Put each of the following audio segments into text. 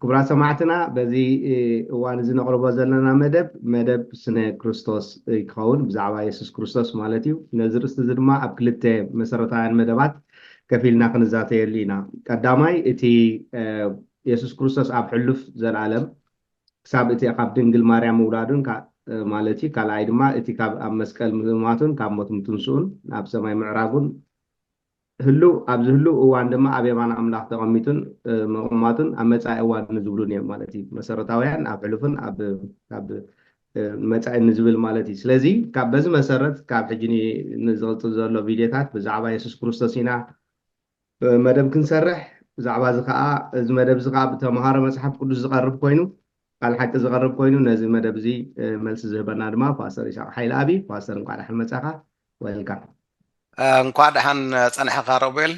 ክቡራት ሰማዕትና በዚ እዋን እዚ ነቕርቦ ዘለና መደብ መደብ ስነ ክርስቶስ ክኸውን ብዛዕባ የሱስ ክርስቶስ ማለት እዩ ነዚ ርእስቲ እዚ ድማ ኣብ ክልተ መሰረታውያን መደባት ከፊልና ክንዛተየሉ ኢና ቀዳማይ እቲ የሱስ ክርስቶስ ኣብ ሕሉፍ ዘልኣለም ክሳብ እቲ ካብ ድንግል ማርያም ምውላዱን ማለት እዩ ካልኣይ ድማ እቲ ካብ ኣብ መስቀል ምማቱን ካብ ሞት ምትንስኡን ናብ ሰማይ ምዕራጉን ህሉው ኣብዚ ህሉው እዋን ድማ ኣብ የማን ኣምላኽ ተቐሚጡን ምቕማጡን ኣብ መጻኢ እዋን ንዝብሉን እዮም ማለት እዩ። መሰረታውያን ኣብ ሕሉፍን ኣብ ኣብ መጻኢ ንዝብል ማለት እዩ። ስለዚ ካብ በዚ መሰረት ካብ ሕጂ ንዝቕጽል ዘሎ ቪድዮታት ብዛዕባ የሱስ ክርስቶስ ኢና መደብ ክንሰርሕ ብዛዕባ እዚ ከኣ እዚ መደብ እዚ ከኣ ብተምሃሮ መጽሓፍ ቅዱስ ዝቐርብ ኮይኑ ቃል ሓቂ ዝቐርብ ኮይኑ ነዚ መደብ እዚ መልሲ ዝህበና ድማ ፓስተር ይስሃቅ ሓይልኣብ እዩ ፓስተር እንቋዕ ዳሓን መጻኻ Welcome። እንኳዕ ደሓን ፀናሕኻ ሮቤል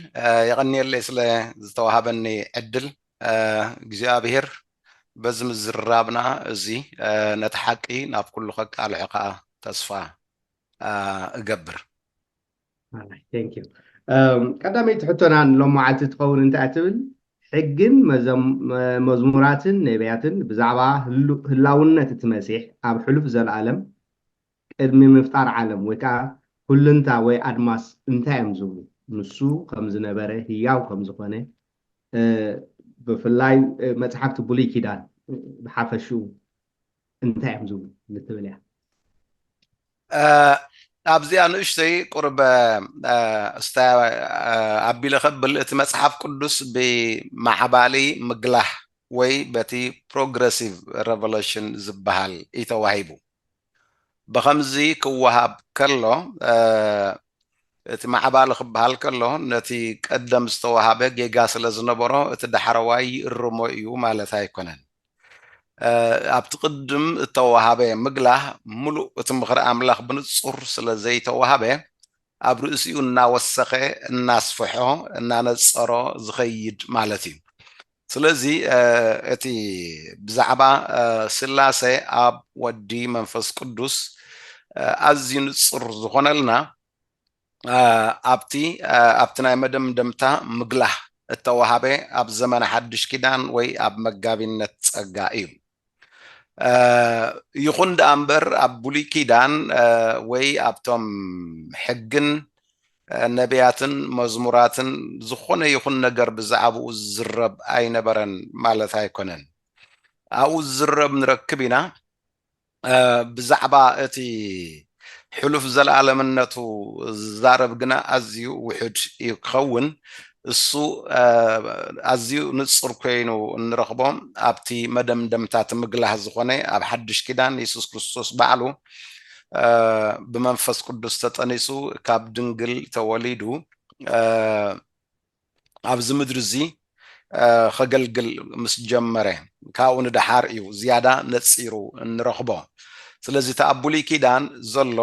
የቐንየለይ ስለ ዝተዋሃበኒ ዕድል እግዚኣብሄር በዚ ምዝርራብና እዚ ነቲ ሓቂ ናብ ኩሉ ከቃልሖ ከዓ ተስፋ እገብር ቀዳመይቲ ሕቶና ንሎም መዓልቲ ትኸውን እንታይ እያ ትብል ሕግን መዝሙራትን ነቢያትን ብዛዕባ ህላውነት እቲ መሲሕ ኣብ ሕሉፍ ዘለኣለም ቅድሚ ምፍጣር ዓለም ወይ ከዓ ኩልንታ ወይ ኣድማስ እንታይ እዮም ዝብሉ ንሱ ከም ዝነበረ ህያው ከም ዝኾነ ብፍላይ መፅሓፍቲ ብሉይ ኪዳን ብሓፈሽኡ እንታይ እዮም ዝብሉ ንትብል እያ ኣብዚኣ ንእሽተይ ቁርበ እስታ ኣቢለ ከብል እቲ መፅሓፍ ቅዱስ ብማዕባሊ ምግላህ ወይ በቲ ፕሮግረሲቭ ረቨሎሽን ዝበሃል እዩ ተዋሂቡ ብከምዚ ክወሃብ ከሎ እቲ ማዕባሊ ክበሃል ከሎ ነቲ ቀደም ዝተዋሃበ ጌጋ ስለ ዝነበሮ እቲ ዳሕረዋይ ይእርሞ እዩ ማለት ኣይኮነን ኣብቲ ቅድም እተዋሃበ ምግላህ ምሉእ እቲ ምኽሪ ኣምላኽ ብንጹር ስለ ዘይተዋህበ ኣብ ርእሲኡ እናወሰኸ እናስፍሖ እናነጸሮ ዝኸይድ ማለት እዩ ስለዚ እቲ ብዛዕባ ስላሴ ኣብ ወዲ መንፈስ ቅዱስ ኣዝዩ ንጹር ዝኾነልና ኣብቲ ኣብቲ ናይ መደምደምታ ምግላህ እተዋሃበ ኣብ ዘመነ ሓድሽ ኪዳን ወይ ኣብ መጋቢነት ጸጋ እዩ። ይኹን ደኣ እምበር ኣብ ብሉይ ኪዳን ወይ ኣብቶም ሕግን ነቢያትን መዝሙራትን ዝኾነ ይኹን ነገር ብዛዕባኡ ዝዝረብ ኣይነበረን ማለት ኣይኮነን። ኣብኡ ዝዝረብ ንረክብ ኢና። ብዛዕባ እቲ ሕሉፍ ዘለኣለምነቱ ዝዛረብ ግና ኣዝዩ ውሑድ እዩ ክኸውን። እሱ ኣዝዩ ንጹር ኰይኑ እንረኽቦ ኣብቲ መደምደምታ እቲ ምግላህ ዝዀነ ኣብ ሓድሽ ኪዳን የሱስ ክርስቶስ ባዕሉ ብመንፈስ ቅዱስ ተጠኒሱ ካብ ድንግል ተወሊዱ ኣብዚ ምድሪ እዚ ኸገልግል ምስ ጀመረ ካብኡ ንደሓር እዩ ዝያዳ ነጺሩ እንረኽቦ። ስለዚ እቲ ኣብ ብሉይ ኪዳን ዘሎ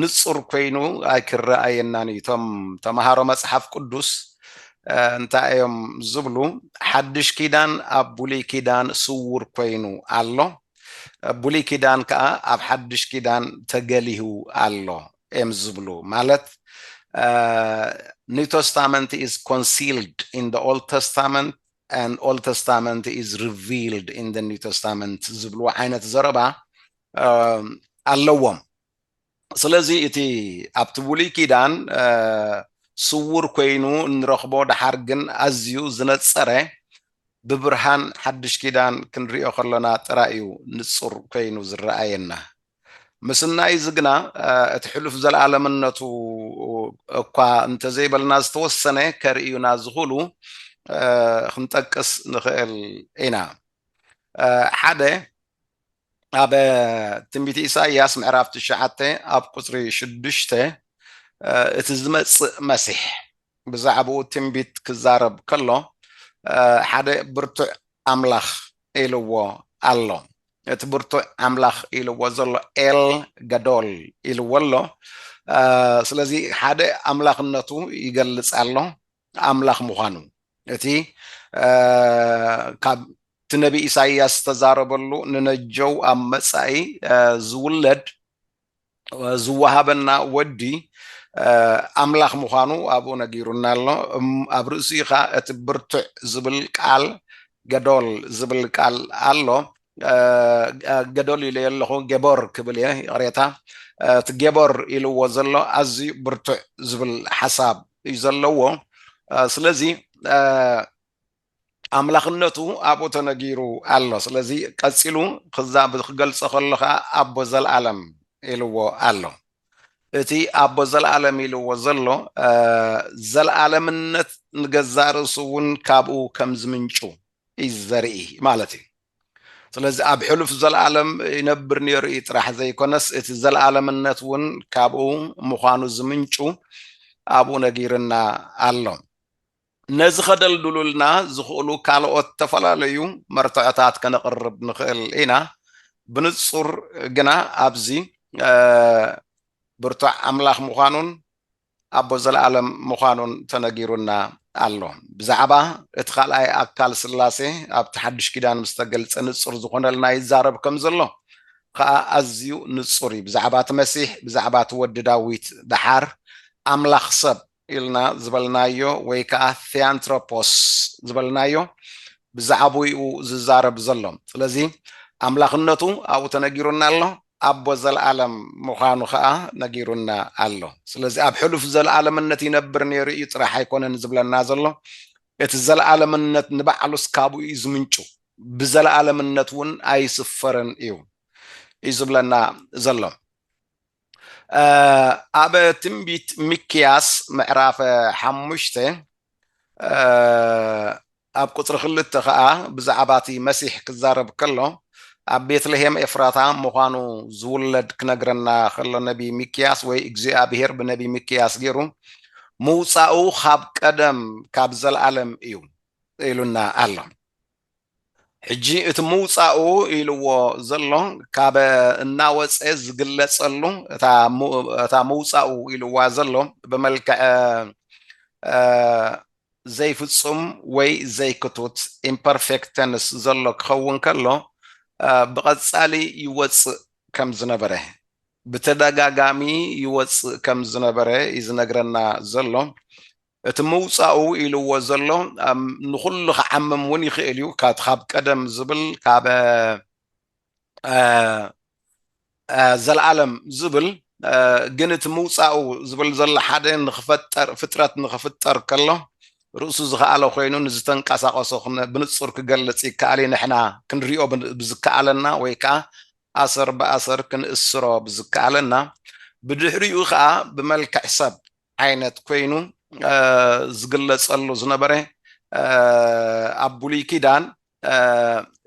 ንጹር ኮይኑ ኣይክረኣየናን እዩ። እቶም ተመሃሮ መጽሓፍ ቅዱስ እንታይ እዮም ዝብሉ? ሓድሽ ኪዳን ኣብ ብሉይ ኪዳን ስውር ኮይኑ ኣሎ፣ ብሉይ ኪዳን ከኣ ኣብ ሓድሽ ኪዳን ተገሊሁ ኣሎ እዮም ዝብሉ ማለት ኒው ተስታመንት ኢዝ ኮንሲልድ ኢን ደ ኦልድ ተስታመንት ኣን ኦልድ ተስታመንት ኢዝ ሪቪልድ ኢን ደ ኒው ተስታመንት ዝብልዎ ዓይነት ዘረባ ኣለዎም ስለዚ እቲ ኣብቲ ብሉይ ኪዳን ስውር ኮይኑ እንረኽቦ ደሓር ግን ኣዝዩ ዝነፀረ ብብርሃን ሓድሽ ኪዳን ክንሪኦ ከሎና ጥራይ እዩ ንፁር ኮይኑ ዝረኣየና ምስናይ እዚ ግና እቲ ሕሉፍ ዘለኣለምነቱ እኳ እንተዘይበልና ዝተወሰነ ከርእዩና ዝኽእሉ ክንጠቅስ ንኽእል ኢና። ሓደ ኣብ ትንቢት ኢሳይያስ ምዕራፍ ትሽዓተ ኣብ ቁጽሪ ሽዱሽተ እቲ ዝመጽእ መሲሕ ብዛዕባኡ ትንቢት ክዛረብ ከሎ ሓደ ብርቱዕ ኣምላኽ ኢልዎ ኣሎ። እቲ ብርቱዕ ኣምላኽ ኢልዎ ዘሎ ኤል ገዶል ኢልዎ ኣሎ። ስለዚ ሓደ ኣምላኽነቱ ይገልጽ ኣሎ፣ ኣምላኽ ምዃኑ እቲ ካብ እቲ ነቢ ኢሳይያስ ዝተዛረበሉ ንነጀው ኣብ መጻኢ ዝውለድ ዝወሃበና ወዲ ኣምላኽ ምዃኑ ኣብኡ ነጊሩና ኣሎ። ኣብ ርእሲኡ ኸኣ እቲ ብርቱዕ ዝብል ቃል ገዶል ዝብል ቃል ኣሎ። ገዶል ኢለዮ ኣለኹ ጌቦር ክብል እየ ይቕሬታ። እቲ ጌቦር ኢልዎ ዘሎ ኣዝዩ ብርቱዕ ዝብል ሓሳብ እዩ ዘለዎ። ስለዚ ኣምላኽነቱ ኣብኡ ተነጊሩ ኣሎ። ስለዚ ቀጺሉ ክዛብ ክገልጾ ከሎ ከኣ ኣቦ ዘልኣለም ኢልዎ ኣሎ። እቲ ኣቦ ዘልኣለም ኢልዎ ዘሎ ዘልኣለምነት ንገዛእ ርእሱ እውን ካብኡ ከም ዝምንጩ እዩ ዘርኢ ማለት እዩ። ስለዚ ኣብ ሕሉፍ ዘልኣለም ይነብር ነይሩ እዩ ጥራሕ ዘይኮነስ እቲ ዘልኣለምነት እውን ካብኡ ምዃኑ ዝምንጩ ኣብኡ ነጊርና ኣሎ። ነዚ ከደልድሉልና ዝኽእሉ ካልኦት ዝተፈላለዩ መርትዖታት ከነቕርብ ንኽእል ኢና፣ ብንጹር ግና ኣብዚ ብርቱዕ ኣምላኽ ምዃኑን ኣቦ ዘለኣለም ምዃኑን ተነጊሩና ኣሎ። ብዛዕባ እቲ ካልኣይ ኣካል ስላሴ ኣብቲ ሓድሽ ኪዳን ምስ ተገልጸ ንጹር ዝኾነልና ይዛረብ ከም ዘሎ ኸኣ ኣዝዩ ንጹር እዩ። ብዛዕባ እቲ መሲሕ፣ ብዛዕባ እቲ ወዲ ዳዊት ደሓር ኣምላኽ ሰብ ኢልና ዝበልናዮ ወይ ከኣ ቴኣንትሮፖስ ዝበልናዮ ብዛዕብኡ ዝዛረብ ዘሎ። ስለዚ ኣምላኽነቱ ኣብኡ ተነጊሩና ኣሎ፣ ኣቦ ዘለኣለም ምዃኑ ከኣ ነጊሩና ኣሎ። ስለዚ ኣብ ሕሉፍ ዘለኣለምነት ይነብር ነይሩ እዩ ጥራሕ ኣይኮነን ዝብለና ዘሎ፣ እቲ ዘለኣለምነት ንባዕሉስ ካብኡ እዩ ዝምንጩ፣ ብዘለኣለምነት እውን ኣይስፈርን እዩ እዩ ዝብለና ዘሎ። ኣብ ትንቢት ሚክያስ ምዕራፍ ሓሙሽተ ኣብ ቁፅሪ ክልተ ከዓ ብዛዕባ እቲ መሲሕ ክዛረብ ከሎ ኣብ ቤትልሄም ኤፍራታ ምዃኑ ዝውለድ ክነግረና ከሎ ነቢ ሚክያስ ወይ እግዚኣብሄር ብነቢ ሚክያስ ገይሩ ምውፃኡ ካብ ቀደም ካብ ዘለኣለም እዩ ኢሉና ኣሎ ሕጂ እቲ ምውጻኡ ኢልዎ ዘሎ ካብ እናወጸ ዝግለጸሉ እታ ምውጻኡ ኢልዋ ዘሎ ብመልክዐ ዘይፍጹም ወይ ዘይክቱት ኢምፐርፌክት ተንስ ዘሎ ክኸውን ከሎ ብቐጻሊ ይወጽእ ከም ዝነበረ ብተደጋጋሚ ይወጽእ ከም ዝነበረ እዩ ዝነግረና ዘሎ። እቲ ምውጻኡ ኢልዎ ዘሎ ንኹሉ ክዓምም ውን ይኽእል እዩ ካቲ ካብ ቀደም ዝብል ካብ ዘልኣለም ዝብል ግን እቲ ምውጻኡ ዝብል ዘሎ ሓደ ንኽፈጠር ፍጥረት ንኽፍጠር ከሎ ርእሱ ዝኸኣለ ኮይኑ ንዝተንቀሳቐሶ ብንጹር ክገልጽ ይከኣል እዩ ንሕና ክንሪኦ ብዝከኣለና ወይ ከኣ ኣሰር ብኣሰር ክንእስሮ ብዝከኣለና ብድሕሪኡ ከኣ ብመልክዕ ሰብ ዓይነት ኮይኑ ዝግለጸሉ ዝነበረ ኣብ ብሉይ ኪዳን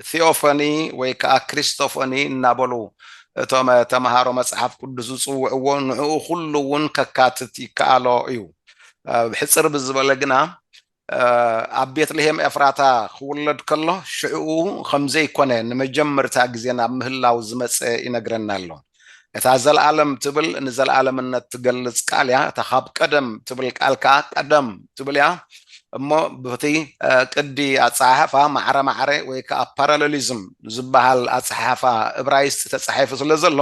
ቴኦፈኒ ወይ ከዓ ክሪስቶፈኒ እናበሉ እቶም ተምሃሮ መጽሓፍ ቅዱስ ዝጽውዕዎ ንዕኡ ኩሉ እውን ከካትት ይከኣሎ እዩ። ብሕፅር ብዝበለ ግና ኣብ ቤትልሄም ኤፍራታ ክውለድ ከሎ ሽዕኡ ኸም ዘይኰነ ንመጀመርታ ግዜ ናብ ምህላው ዝመጸ ይነግረና ኣሎ። እታ ዘለኣለም ትብል ንዘለኣለምነት ትገልጽ ቃል እያ፣ እታ ኻብ ቀደም ትብል ቃል ከኣ ቀደም ትብል እያ እሞ በቲ ቅዲ ኣጸሓሕፋ ማዕረ ማዕረ ወይ ከኣ ፓራለሊዝም ዝበሃል ኣጸሓሕፋ እብራይስጢ ተጻሒፉ ስለ ዘሎ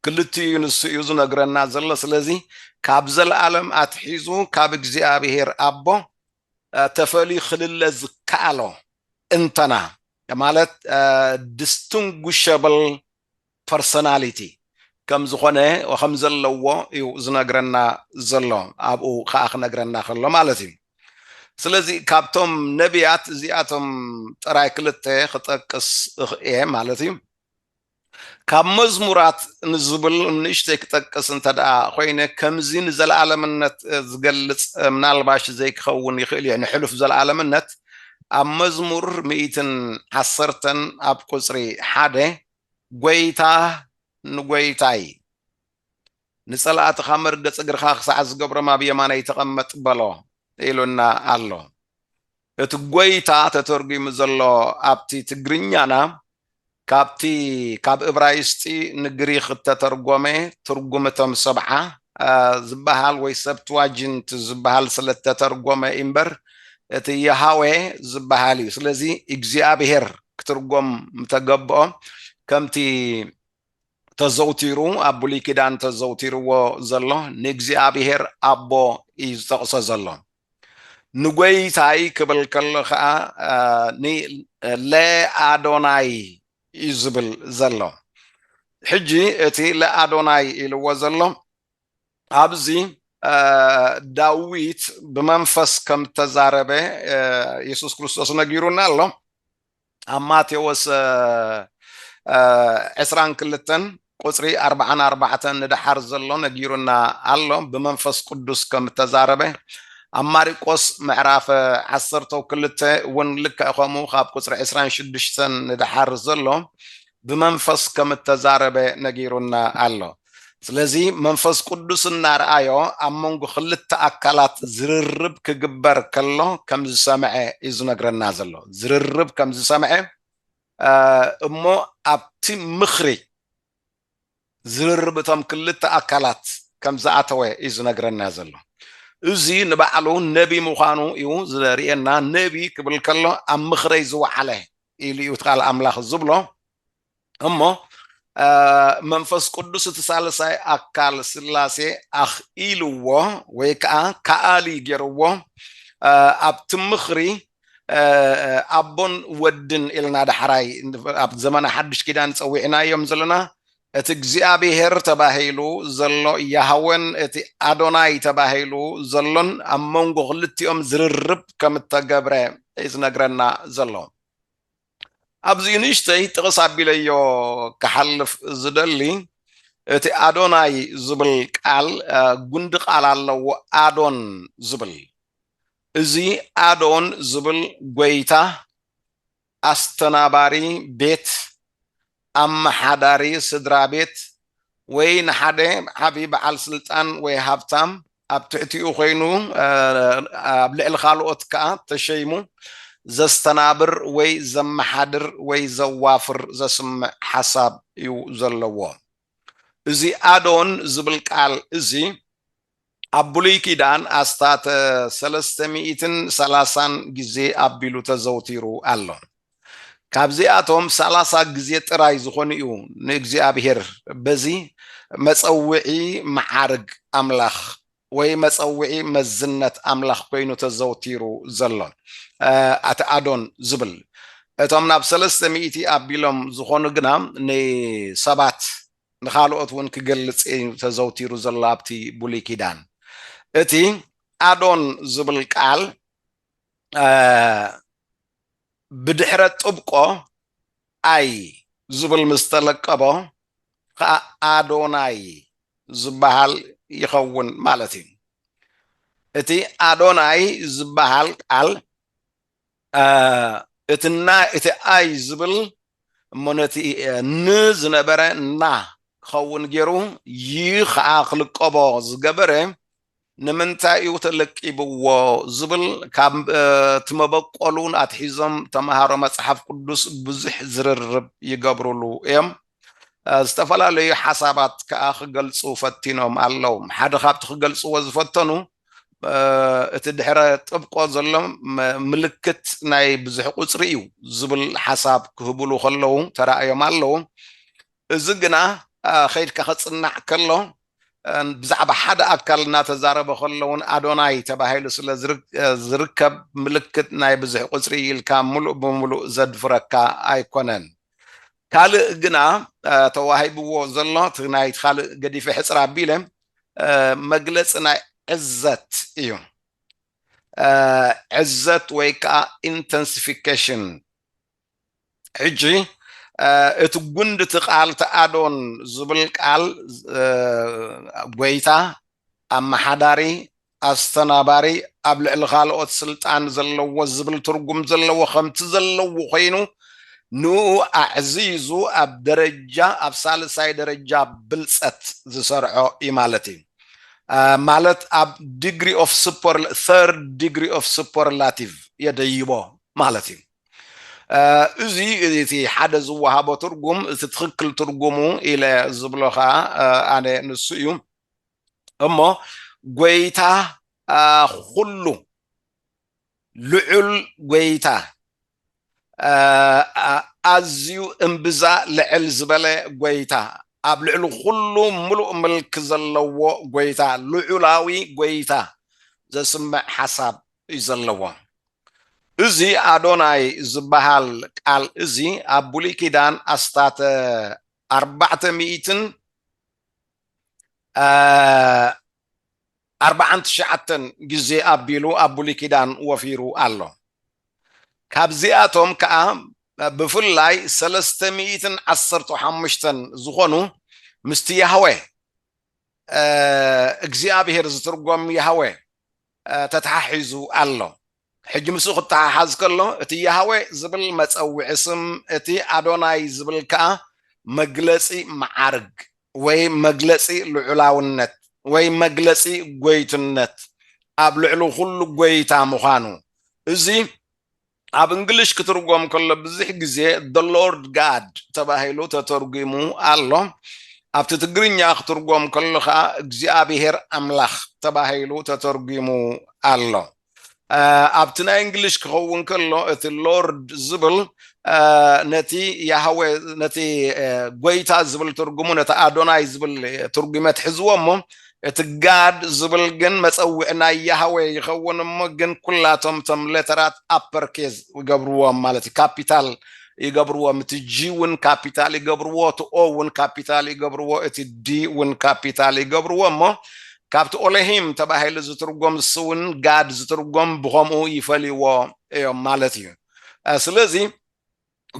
ክልቲኡ ንሱ እዩ ዝነግረና ዘሎ ስለዚ ካብ ዘለኣለም ኣትሒዙ ካብ እግዚኣብሔር ኣቦ ተፈልዩ ክልለ ዝከኣሎ እንተና ማለት ዲስቲንጉሸብል ፐርሶናሊቲ ከም ዝኾነ ከም ዘለዎ እዩ ዝነግረና ዘሎ ኣብኡ ከዓ ክነግረና ከሎ ማለት እዩ ስለዚ ካብቶም ነቢያት እዚኣቶም ጥራይ ክልተ ክጠቅስ እኽእየ ማለት እዩ ካብ መዝሙራት ንዝብል ንእሽተይ ክጠቅስ እንተድኣ ኮይነ ከምዚ ንዘለኣለምነት ዝገልጽ ምናልባሽ ዘይክኸውን ይኽእል እየ ንሕሉፍ ዘለኣለምነት ኣብ መዝሙር ሚእትን ዓሰርተን ኣብ ቁጽሪ ሓደ ጐይታ ንጐይታይ ንጸላእትኻ መርገጽ እግርኻ ክሳዕ ዝገብሮም ኣብ የማነይ ተቐመጥ በሎ ኢሉና ኣሎ። እቲ ጐይታ ተተርጒሙ ዘሎ ኣብቲ ትግርኛና ካብቲ ካብ እብራይስጢ ንግሪኽ እተተርጐመ ትርጉም እቶም ሰብዓ ዝበሃል ወይ ሰፕትዋጂንት ዝበሃል ስለ እተተርጐመ እዩ እምበር እቲ የሃዌ ዝበሃል እዩ። ስለዚ እግዚኣብሄር ክትርጐም ምተገብኦ ከምቲ ተዘውቲሩ ኣብ ብሉይ ኪዳን ተዘውቲርዎ ዘሎ ንእግዚኣብሄር ኣቦ እዩ ዝጠቕሶ ዘሎ። ንጐይታይ ክብል ከሎ ኸኣ ን ለ ኣዶናይ እዩ ዝብል ዘሎ። ሕጂ እቲ ለ ኣዶናይ ኢልዎ ዘሎ ኣብዚ ዳዊት ብመንፈስ ከም እተዛረበ የሱስ ክርስቶስ ነጊሩና ኣሎ። ኣብ ማቴዎስ ዕስራን ክልተን ቁጽሪ ኣርባዓን ኣርባዕተን ንደሓር ዘሎ ነጊሩና ኣሎ ብመንፈስ ቅዱስ ከም እተዛረበ ኣብ ማሪቆስ ምዕራፍ ዓሰርተው ክልተ እውን ልክዕ ከምኡ ካብ ቁጽሪ ዕስራን ሽዱሽተን ንደሓር ዘሎ ብመንፈስ ከም እተዛረበ ነጊሩና ኣሎ። ስለዚ መንፈስ ቅዱስ እናርኣዮ ኣብ መንጎ ክልተ ኣካላት ዝርርብ ክግበር ከሎ ከም ዝሰምዐ እዩ ዝነግረና ዘሎ። ዝርርብ ከም ዝሰምዐ እሞ ኣብቲ ምኽሪ ዝርርብ እቶም ክልተ ኣካላት ከም ዝኣተወ እዩ ዝነግረና ዘሎ። እዚ ንባዕሉ ነቢ ምዃኑ እዩ ዘርእየና፣ ነቢ ክብል ከሎ ኣብ ምኽረይ ዝወዓለ ኢሉ እዩ እቲ ቃል ኣምላኽ ዝብሎ። እሞ መንፈስ ቅዱስ እቲ ሳልሳይ ኣካል ስላሴ ኣኽኢልዎ ወይ ከዓ ከኣሊ ገይርዎ ኣብቲ ምኽሪ ኣቦን ወድን ኢልና ዳሕራይ ኣብ ዘመነ ሓድሽ ኪዳን ጸዊዕናዮም ዘለና እቲ እግዚኣብሄር ተባሂሉ ዘሎ ያህወን እቲ ኣዶናይ ተባሂሉ ዘሎን ኣብ መንጎ ክልቲኦም ዝርርብ ከም እተገብረ እዩ ዝነግረና ዘሎ ኣብዚ ንእሽተይ ጥቕስ ኣቢለዮ ክሓልፍ ዝደሊ እቲ ኣዶናይ ዝብል ቃል ጉንዲ ቃል ኣለዎ ኣዶን ዝብል እዚ ኣዶን ዝብል ጎይታ ኣስተናባሪ ቤት፣ ኣመሓዳሪ ስድራቤት፣ ወይ ንሓደ ዓቢ በዓል ስልጣን ወይ ሃብታም ኣብ ትሕቲኡ ኮይኑ ኣብ ልዕሊ ካልኦት ከኣ ተሸይሙ ዘስተናብር ወይ ዘመሓድር ወይ ዘዋፍር ዘስምዕ ሓሳብ እዩ ዘለዎ። እዚ ኣዶን ዝብል ቃል እዚ ኣብ ብሉይ ኪዳን ኣስታተ ሰለስተ ሚኢትን ሰላሳን ግዜ ኣቢሉ ተዘውቲሩ ኣሎ። ካብዚኣቶም ሰላሳ ግዜ ጥራይ ዝኾኑ እዩ ንእግዚኣብሄር በዚ መጸውዒ መዓርግ ኣምላኽ ወይ መጸውዒ መዝነት ኣምላኽ ኮይኑ ተዘውቲሩ ዘሎ። ኣቲ ኣዶን ዝብል እቶም ናብ ሰለስተ ሚኢቲ ኣቢሎም ዝኾኑ ግና ንሰባት ንኻልኦት እውን ክገልጽ እዩ ተዘውቲሩ ዘሎ ኣብቲ ብሉይ ኪዳን። እቲ ኣዶን ዝብል ቃል ብድሕረ ጥብቆ ኣይ ዝብል ምስ ተለቀቦ ኸኣ ኣዶናይ ዝበሃል ይኸውን ማለት እዩ። እቲ ኣዶናይ ዝበሃል ቃል እቲ ናይ እቲ ኣይ ዝብል እሞ ነቲ ን ዝነበረ እና ክኸውን ገይሩ ይ ኸዓ ክልቀቦ ዝገበረ ንምንታይ እዩ ተለቂብዎ ዝብል ካብ እቲ መበቆሉ ኣትሒዞም ተምሃሮ መፅሓፍ ቅዱስ ብዙሕ ዝርርብ ይገብሩሉ እዮም። ዝተፈላለዩ ሓሳባት ከኣ ክገልጹ ፈቲኖም ኣለዉ። ሓደ ካብቲ ክገልጽዎ ዝፈተኑ እቲ ድሕረ ጥብቆ ዘሎ ምልክት ናይ ብዙሕ ቁጽሪ እዩ ዝብል ሓሳብ ክህብሉ ከለዉ ተራእዮም ኣለዉ። እዚ ግና ከይድካ ክጽናዕ ከሎ ብዛዕባ ሓደ ኣካል እናተዛረበ ከሎ'ውን ኣዶናይ ተባሂሉ ስለ ዝርከብ ምልክት ናይ ብዙሕ ቁጽሪ እዩ ኢልካ ምሉእ ብምሉእ ዘድፍረካ ኣይኮነን። ካልእ ግና ተዋሂብዎ ዘሎ እቲ ናይቲ ካልእ ገዲፈ ሕጽር ኣቢለ መግለጺ ናይ ዕዘት እዩ። ዕዘት ወይ ከኣ ኢንተንሲፊኬሽን ሕጂ እቲ ጉንዲ እቲ ቃል እቲ ኣዶን ዝብል ቃል ጎይታ ኣማሓዳሪ ኣስተናባሪ ኣብ ልዕሊ ካልኦት ስልጣን ዘለዎ ዝብል ትርጉም ዘለዎ ከምቲ ዘለዎ ኮይኑ ንኡ ኣዕዚዙ ኣብ ደረጃ ኣብ ሳልሳይ ደረጃ ብልጸት ዝሰርዖ እዩ ማለት እዩ ማለት ኣብ ዲግሪ ኦፍ ሱፐር ተርድ ዲግሪ ኦፍ ሱፐርላቲቭ የደይቦ ማለት እዩ እዚ እቲ ሓደ ዝወሃቦ ትርጉም እቲ ትኽክል ትርጉሙ ኢለ ዝብሎ ከዓ ኣነ ንሱ እዩ እሞ ጎይታ ኩሉ ልዑል ጎይታ ኣዝዩ እምብዛ ልዕል ዝበለ ጎይታ ኣብ ልዕሊ ኩሉ ምሉእ ምልክ ዘለዎ ጎይታ ልዑላዊ ጎይታ ዘስምዕ ሓሳብ እዩ ዘለዎ እዚ ኣዶናይ ዚበሃል ቃል እዚ፣ ኣብ ብሉይ ኪዳን ኣስታት ኣርባዕተ ሚእትን ኣርባዓን ትሽዓተን ግዜ ኣቢሉ ኣብ ብሉይ ኪዳን ወፊሩ ኣሎ። ካብዚኣቶም ከኣ ብፍላይ ሰለስተ ሚእትን ዓሰርተ ሓሙሽተን ዝኾኑ ምስቲ ያህዌ እግዚኣብሄር ዝትርጎም ያህዌ ተተሓሒዙ ኣሎ። ሕጂ ምስኡ ክተሓሓዝ ከሎ፣ እቲ ያህዌ ዝብል መጸውዒ ስም፣ እቲ ኣዶናይ ዝብል ከኣ መግለጺ መዓርግ ወይ መግለጺ ልዑላውነት ወይ መግለጺ ጐይትነት፣ ኣብ ልዕሊ ዅሉ ጐይታ ምዃኑ፣ እዚ፣ ኣብ እንግሊሽ ክትርጎም ከሎ ብዙሕ ግዜ the Lord God ተባሂሉ ተተርጒሙ ኣሎ። ኣብቲ ትግርኛ ክትርጎም ከሎ ከኣ እግዚኣብሔር ኣምላኽ ተባሂሉ ተተርጒሙ ኣሎ። ኣብቲ ናይ እንግሊሽ ክኸውን ከሎ እቲ ሎርድ ዝብል ነቲ ያህወ ነቲ ጎይታ ዝብል ትርጉሙ ነቲ ኣዶናይ ዝብል ትርጒመት ሕዝዎ እሞ እቲ ጋድ ዝብል ግን መጸውዒ ናይ ያህዌ ይኸውን እሞ ግን ኩላቶም እቶም ሌተራት ኣፐር ኬዝ ይገብርዎም ማለት እዩ ካፒታል ይገብርዎም እቲ ጂ እውን ካፒታል ይገብርዎ እቲ ኦ እውን ካፒታል ይገብርዎ እቲ ዲ እውን ካፒታል ይገብርዎ እሞ ካብቲ ኦለሂም ተባሂሉ ዝትርጎም ዝስውን ጋድ ዝትርጎም ብኸምኡ ይፈልይዎ እዮም ማለት እዩ ስለዚ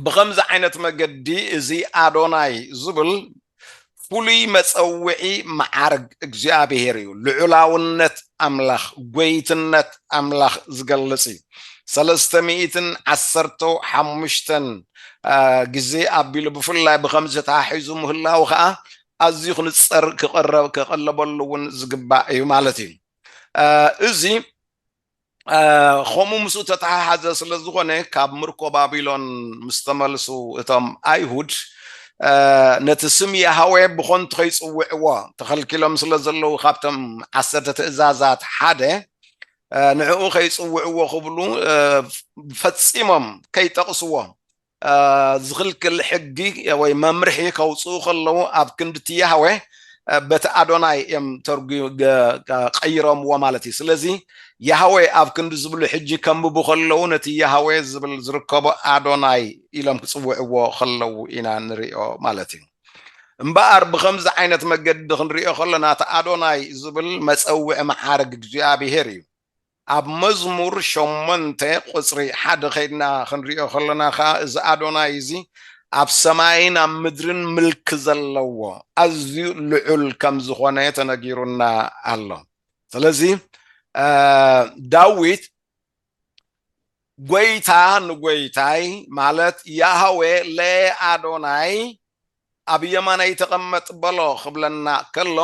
ብኸምዚ ዓይነት መገዲ እዚ ኣዶናይ ዝብል ፍሉይ መጸውዒ መዓርግ እግዚኣብሔር እዩ። ልዑላውነት ኣምላኽ፣ ጎይትነት ኣምላኽ ዝገልጽ እዩ። ሰለስተ ሚእትን ዓሰርተው ሓሙሽተን ግዜ ኣቢሉ ብፍላይ ብኸምዚ ተሓሒዙ ምህላው ከኣ ኣዝዩ ክንጸር ክቐረብ ክቐለበሉ እውን ዝግባእ እዩ ማለት እዩ። እዚ ኸምኡ ምስኡ እተተሓሓዘ ስለ ዝኾነ ካብ ምርኮ ባቢሎን ምስ ተመልሱ እቶም ኣይሁድ ነቲ ስም የሃዌ ብኾንቱ ከይጽውዕዎ ተኸልኪሎም ስለ ዘለዉ ካብቶም ዓሰርተ ትእዛዛት ሓደ ንዕኡ ከይጽውዕዎ ክብሉ ፈጺሞም ከይጠቕስዎ ዝኽልክል ሕጊ ወይ መምርሒ ከውፅኡ ከለዉ ኣብ ክንዲ እቲ ያህዌ በቲ ኣዶናይ እዮም ተርጉ ቀይሮምዎ ማለት እዩ ስለዚ ያህዌ ኣብ ክንዲ ዝብሉ ሕጂ ከንብቡ ከለዉ ነቲ ያህዌ ዝብል ዝርከቦ ኣዶናይ ኢሎም ክፅውዕዎ ከለዉ ኢና ንሪኦ ማለት እዩ እምበኣር ብከምዚ ዓይነት መገዲ ክንሪኦ ከለና እቲ ኣዶናይ ዝብል መፀውዒ መዓርግ እግዚኣብሄር እዩ ኣብ መዝሙር ሸሞንተ ቁጽሪ ሓደ ከይድና ክንሪኦ ከሎና ከኣ እዚ ኣዶናይ እዚ ኣብ ሰማይን ኣብ ምድርን ምልኪ ዘለዎ ኣዝዩ ልዑል ከም ዝኾነ ተነጊሩና ኣሎ ስለዚ ዳዊት ጎይታ ንጎይታይ ማለት ያሃዌ ለኣዶናይ ኣብ የማናይ ተቐመጥ በሎ ክብለና ከሎ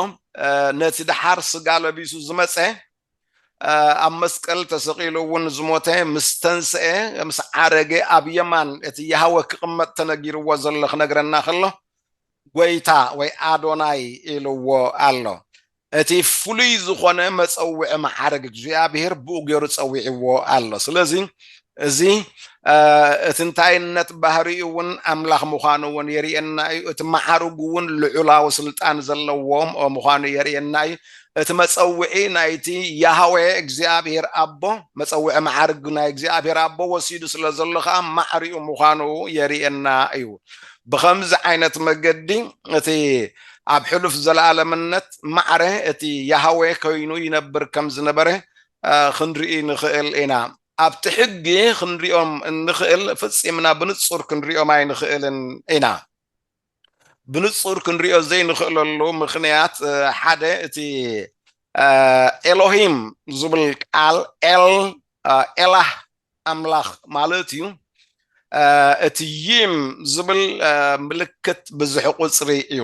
ነቲ ደሓር ስጋ ለቢሱ ዝመፀ ኣብ መስቀል ተሰቒሉ እውን ዝሞተ ምስ ተንስኤ ምስ ዓረገ ኣብ የማን እቲ የሃወ ክቕመጥ ተነጊርዎ ዘሎ ክነግረና ከሎ ጎይታ ወይ ኣዶናይ ኢልዎ ኣሎ እቲ ፍሉይ ዝኾነ መፀውዒ መዓርግ እግዚኣብሔር ብኡ ገይሩ ፀዊዕዎ ኣሎ ስለዚ እዚ እቲ እንታይነት ባህሪኡ እውን ኣምላኽ ምዃኑ እውን የርእየና እዩ እቲ መዓርጉ እውን ልዑላዊ ስልጣን ዘለዎ ምዃኑ የርእየና እዩ እቲ መፀውዒ ናይቲ ያህዌ እግዚኣብሔር ኣቦ መፀውዒ መዓርግ ናይ እግዚኣብሔር ኣቦ ወሲዱ ስለ ዘሎ ከዓ ማዕሪኡ ምዃኑ የርእየና እዩ ብከምዚ ዓይነት መገዲ እቲ ኣብ ሕሉፍ ዘለኣለምነት ማዕረ እቲ ያህዌ ኮይኑ ይነብር ከም ዝነበረ ክንርኢ ንኽእል ኢና ኣብቲ ሕጊ ክንሪኦም እንኽእል ፍጺምና ብንጹር ክንሪኦም ኣይንኽእልን ኢና። ብንጹር ክንሪኦ ዘይንኽእለሉ ምኽንያት ሓደ እቲ ኤሎሂም ዝብል ቃል ኤል ኤላህ ኣምላኽ ማለት እዩ። እቲ ዪም ዝብል ምልክት ብዝሒ ቁጽሪ እዩ።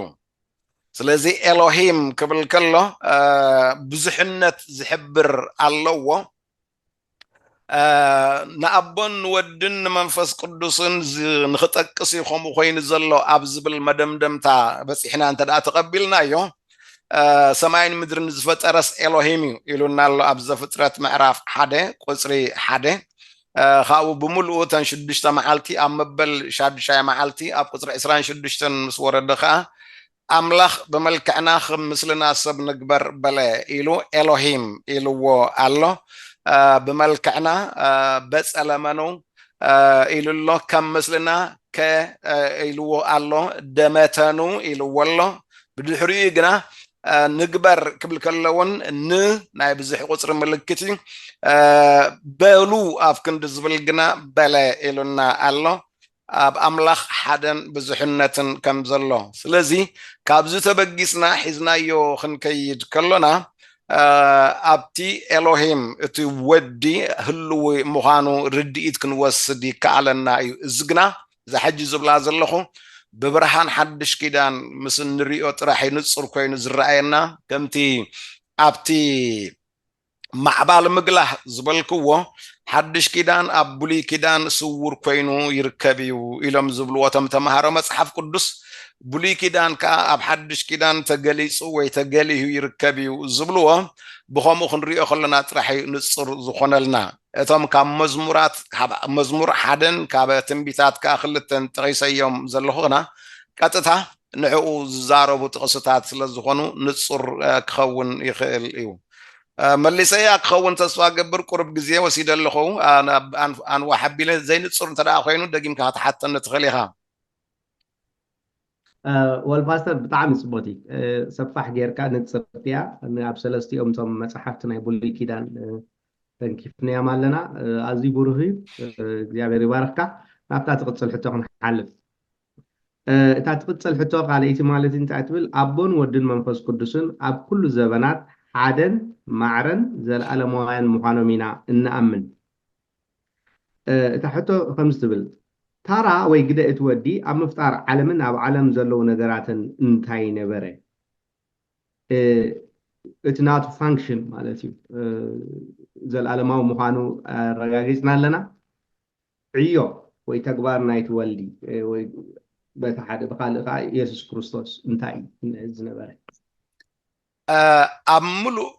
ስለዚ ኤሎሂም ክብል ከሎ ብዙሕነት ዝሕብር ኣለዎ። ንኣቦን ንወድን ንመንፈስ ቅዱስን ንክጠቅስ እዩ ከምኡ ኮይኑ ዘሎ ኣብ ዝብል መደምደምታ በፂሕና እንተ ተቐቢልናዮ ሰማይን ምድርን ዝፈጠረስ ኤሎሂም እዩ ኢሉና ኣሎ ኣብ ዘፍጥረት ምዕራፍ ሓደ ቁፅሪ ሓደ ካብኡ ብምልኡ ተን ሽዱሽተ መዓልቲ ኣብ መበል ሻዱሻይ መዓልቲ ኣብ ቁፅሪ ዕስራን ሽዱሽተን ምስ ወረደ ከዓ ኣምላኽ ብመልክዕና ኽም ምስልና ሰብ ንግበር በለ ኢሉ ኤሎሂም ኢልዎ ኣሎ ብመልክዕና በጸለመኑ ኢሉ ኣሎ ከም ምስልና ከ ኢልዎ ኣሎ ደመተኑ ኢልዎ ኣሎ ብድሕሪኡ ግና ንግበር ክብል ከለውን ን ናይ ብዙሕ ቁፅሪ ምልክት እዩ በሉ ኣብ ክንዲ ዝብል ግና በለ ኢሉና ኣሎ ኣብ ኣምላኽ ሓደን ብዙሕነትን ከም ዘሎ ስለዚ ካብዚ ተበጊስና ሒዝናዮ ክንከይድ ከሎና ኣብቲ ኤሎሂም እቲ ወዲ ህልዊ ምዃኑ ርድኢት ክንወስድ ይከኣለና እዩ እዚ ግና እዛ ሕጂ ዝብላ ዘለኹ ብብርሃን ሓድሽ ኪዳን ምስ እንሪኦ ጥራሕ እዩ ንጹር ኮይኑ ዝረኣየና ከምቲ ኣብቲ ማዕባል ምግላህ ዝበልክዎ ሓድሽ ኪዳን ኣብ ብሉይ ኪዳን ስውር ኮይኑ ይርከብ እዩ ኢሎም ዝብልዎ እቶም ተምሃሮ መጽሓፍ ቅዱስ ብሉይ ኪዳን ከዓ ኣብ ሓድሽ ኪዳን ተገሊጹ ወይ ተገሊሁ ይርከብ እዩ ዝብልዎ ብከምኡ ክንሪኦ ከለና ጥራሕ እዩ ንጹር ዝኾነልና እቶም ካብ መዝሙራት ካብ መዝሙር ሓደን ካብ ትንቢታት ከዓ ክልተን ጠቂሰዮም ዘለኹ ግና ቀጥታ ንዕኡ ዝዛረቡ ጥቕስታት ስለ ዝኾኑ ንጹር ክኸውን ይኽእል እዩ። መሊሰ እያ ክኸውን ተስፋ እገብር ቁሩብ ግዜ ወሲደ ኣለኹ ኣንዋሕ ኣቢለ ዘይንጹር እንተ ኮይኑ ደጊምካ ክትሓተኒ ትኽእል ኢኻ። ወል ፓስተር ብጣዕሚ ጽቡቅቲ ሰፋሕ ጌርካ ንጽርቲ እያ ኣብ ሰለስቲኦም እቶም መጽሓፍቲ ናይ ብሉይ ኪዳን ተንኪፍናዮም ኣለና ኣዝዩ ብሩህ እዩ እግዚኣብሔር ይባርኽካ ናብታ ትቕጽል ሕቶ ክንሓልፍ እታ ትቕጽል ሕቶ ካልኣይቲ ማለት እንታይ እያ ትብል፣ ኣቦን ወድን መንፈስ ቅዱስን ኣብ ኩሉ ዘበናት ሓደን ማዕረን ዘለኣለማውያን ምዃኖም ኢና እንኣምን። እታ ሕቶ ከምዚ ትብል፣ ታራ ወይ ግደ እቲ ወዲ ኣብ ምፍጣር ዓለምን ኣብ ዓለም ዘለዉ ነገራትን እንታይ ነበረ? እቲ ናቱ ፋንክሽን ማለት እዩ፣ ዘለኣለማዊ ምዃኑ ኣረጋጊጽና ኣለና። ዕዮ ወይ ተግባር ናይቲ ወልዲ ወይ በቲ ሓደ ብካልእ ከኣ ኢየሱስ ክርስቶስ እንታይ እዩ ዝነበረ? ኣብ ምሉእ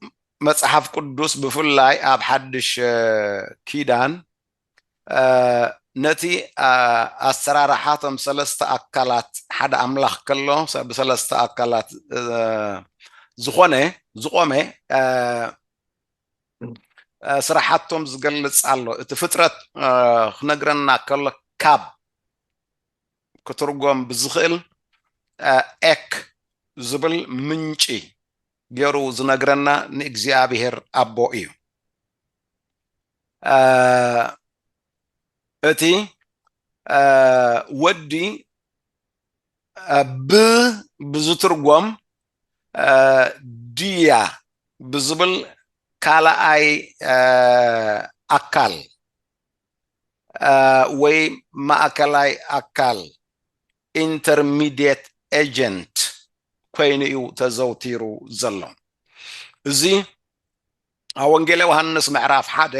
መጽሓፍ ቅዱስ ብፍላይ ኣብ ሓድሽ ኪዳን ነቲ ኣሰራርሓ እቶም ሰለስተ ኣካላት ሓደ ኣምላኽ ከሎ ብሰለስተ ኣካላት ዝኾነ ዝቆመ ስራሓቶም ዝገልፅ ኣሎ እቲ ፍጥረት ክነግረና ከሎ ካብ ክትርጎም ብዝኽእል ኤክ ዝብል ምንጪ ገይሩ ዝነግረና ንእግዚኣብሔር ኣቦ እዩ እቲ ወዲ ብ ብዝትርጎም ድያ ብዝብል ካልኣይ ኣካል ወይ ማእከላይ ኣካል ኢንተርሚድየት ኤጀንት ኮይኑ እዩ ተዘውቲሩ ዘሎ እዚ ኣብ ወንጌል ዮሃንስ ምዕራፍ ሓደ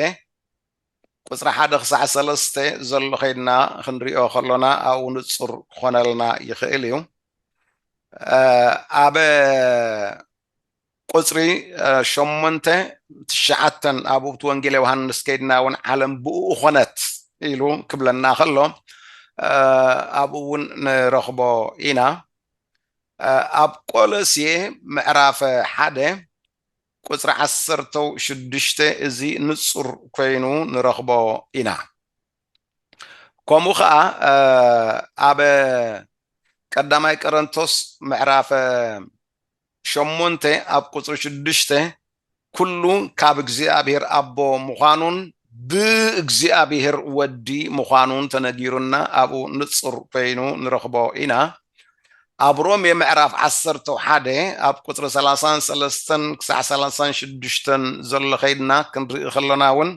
ቁጽሪ ሓደ ክሳዕ ሰለስተ ዘሎ ከይድና ክንሪኦ ከሎና ኣብኡ ንጹር ክኾነልና ይኽእል እዩ። ኣብ ቁጽሪ ሸሞንተ ትሽዓተን ኣብኡብቲ ወንጌል ዮሃንስ ከይድና እውን ዓለም ብኡ ኾነት ኢሉ ክብለና ከሎ ኣብኡ እውን ንረኽቦ ኢና። ኣብ ቆሎሴ ምዕራፍ ሓደ ቁጽሪ ዓሰርተ ሽዱሽተ እዚ ንጹር ኮይኑ ንረኽቦ ኢና። ከምኡ ከኣ ኣብ ቀዳማይ ቀረንቶስ ምዕራፍ ሸሞንተ ኣብ ቁጽሪ ሽዱሽተ ኩሉ ካብ እግዚኣብሔር ኣቦ ምዃኑን ብእግዚኣብሔር ወዲ ምዃኑን ተነጊሩና ኣብኡ ንጹር ኮይኑ ንረኽቦ ኢና። ኣብ ሮሜ ምዕራፍ ዓሰርተው ሓደ ኣብ ቁፅሪ ሰላሳን ሰለስተን ክሳዕ ሰላሳን ሽዱሽተን ዘሎ ከይድና ክንርኢ ከሎና እውን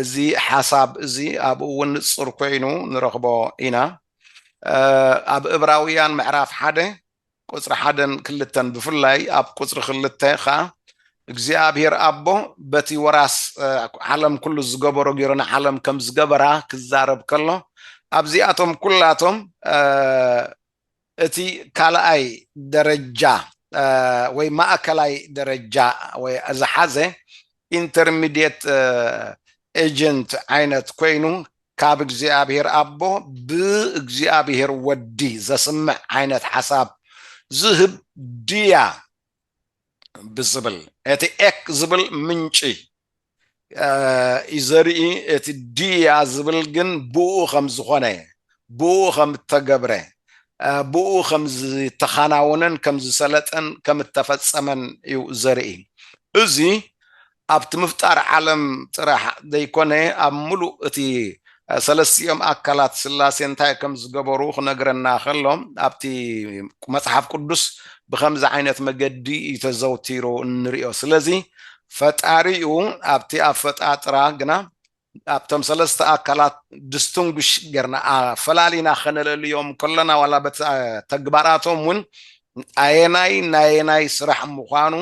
እዚ ሓሳብ እዚ ኣብኡ እውን ንፁር ኮይኑ ንረኽቦ ኢና ኣብ እብራውያን ምዕራፍ ሓደ ቁፅሪ ሓደን ክልተን ብፍላይ ኣብ ቁፅሪ ክልተ ከዓ እግዚኣብሔር ኣቦ በቲ ወራስ ዓለም ኩሉ ዝገበሮ ገይሩ ንዓለም ከም ዝገበራ ክዛረብ ከሎ ኣብዚኣቶም ኩላቶም እቲ ካልኣይ ደረጃ ወይ ማእከላይ ደረጃ ወይ ዝሓዘ ኢንተርሚዲየት ኤጀንት ዓይነት ኮይኑ ካብ እግዚኣብሔር ኣቦ ብእግዚኣብሔር ወዲ ዘስምዕ ዓይነት ሓሳብ ዝህብ ድያ ብዝብል እቲ ኤክ ዝብል ምንጪ እዩ ዘርኢ እቲ ድያ ዝብል ግን ብኡ ከም ዝኾነ ብኡ ከም እተገብረ ብኡ ከም ዝተኻናወነን ከም ዝሰለጠን ከም እተፈጸመን እዩ ዘርኢ እዚ ኣብቲ ምፍጣር ዓለም ጥራሕ ዘይኮነ ኣብ ምሉእ እቲ ሰለስቲኦም ኣካላት ስላሴ እንታይ ከም ዝገበሩ ክነግረና ከሎ ኣብቲ መጽሓፍ ቅዱስ ብኸምዚ ዓይነት መገዲ እዩ ተዘውቲሩ እንሪኦ ስለዚ ፈጣሪኡ ኣብቲ ኣፈጣጥራ ግና ኣብቶም ሰለስተ ኣካላት ድስቱንጉሽ ጌርና ኣፈላሊና ከነለልዮም ከሎና ዋላ በቲ ተግባራቶም ውን ኣየናይ ናየናይ ስራሕ ምዃኑ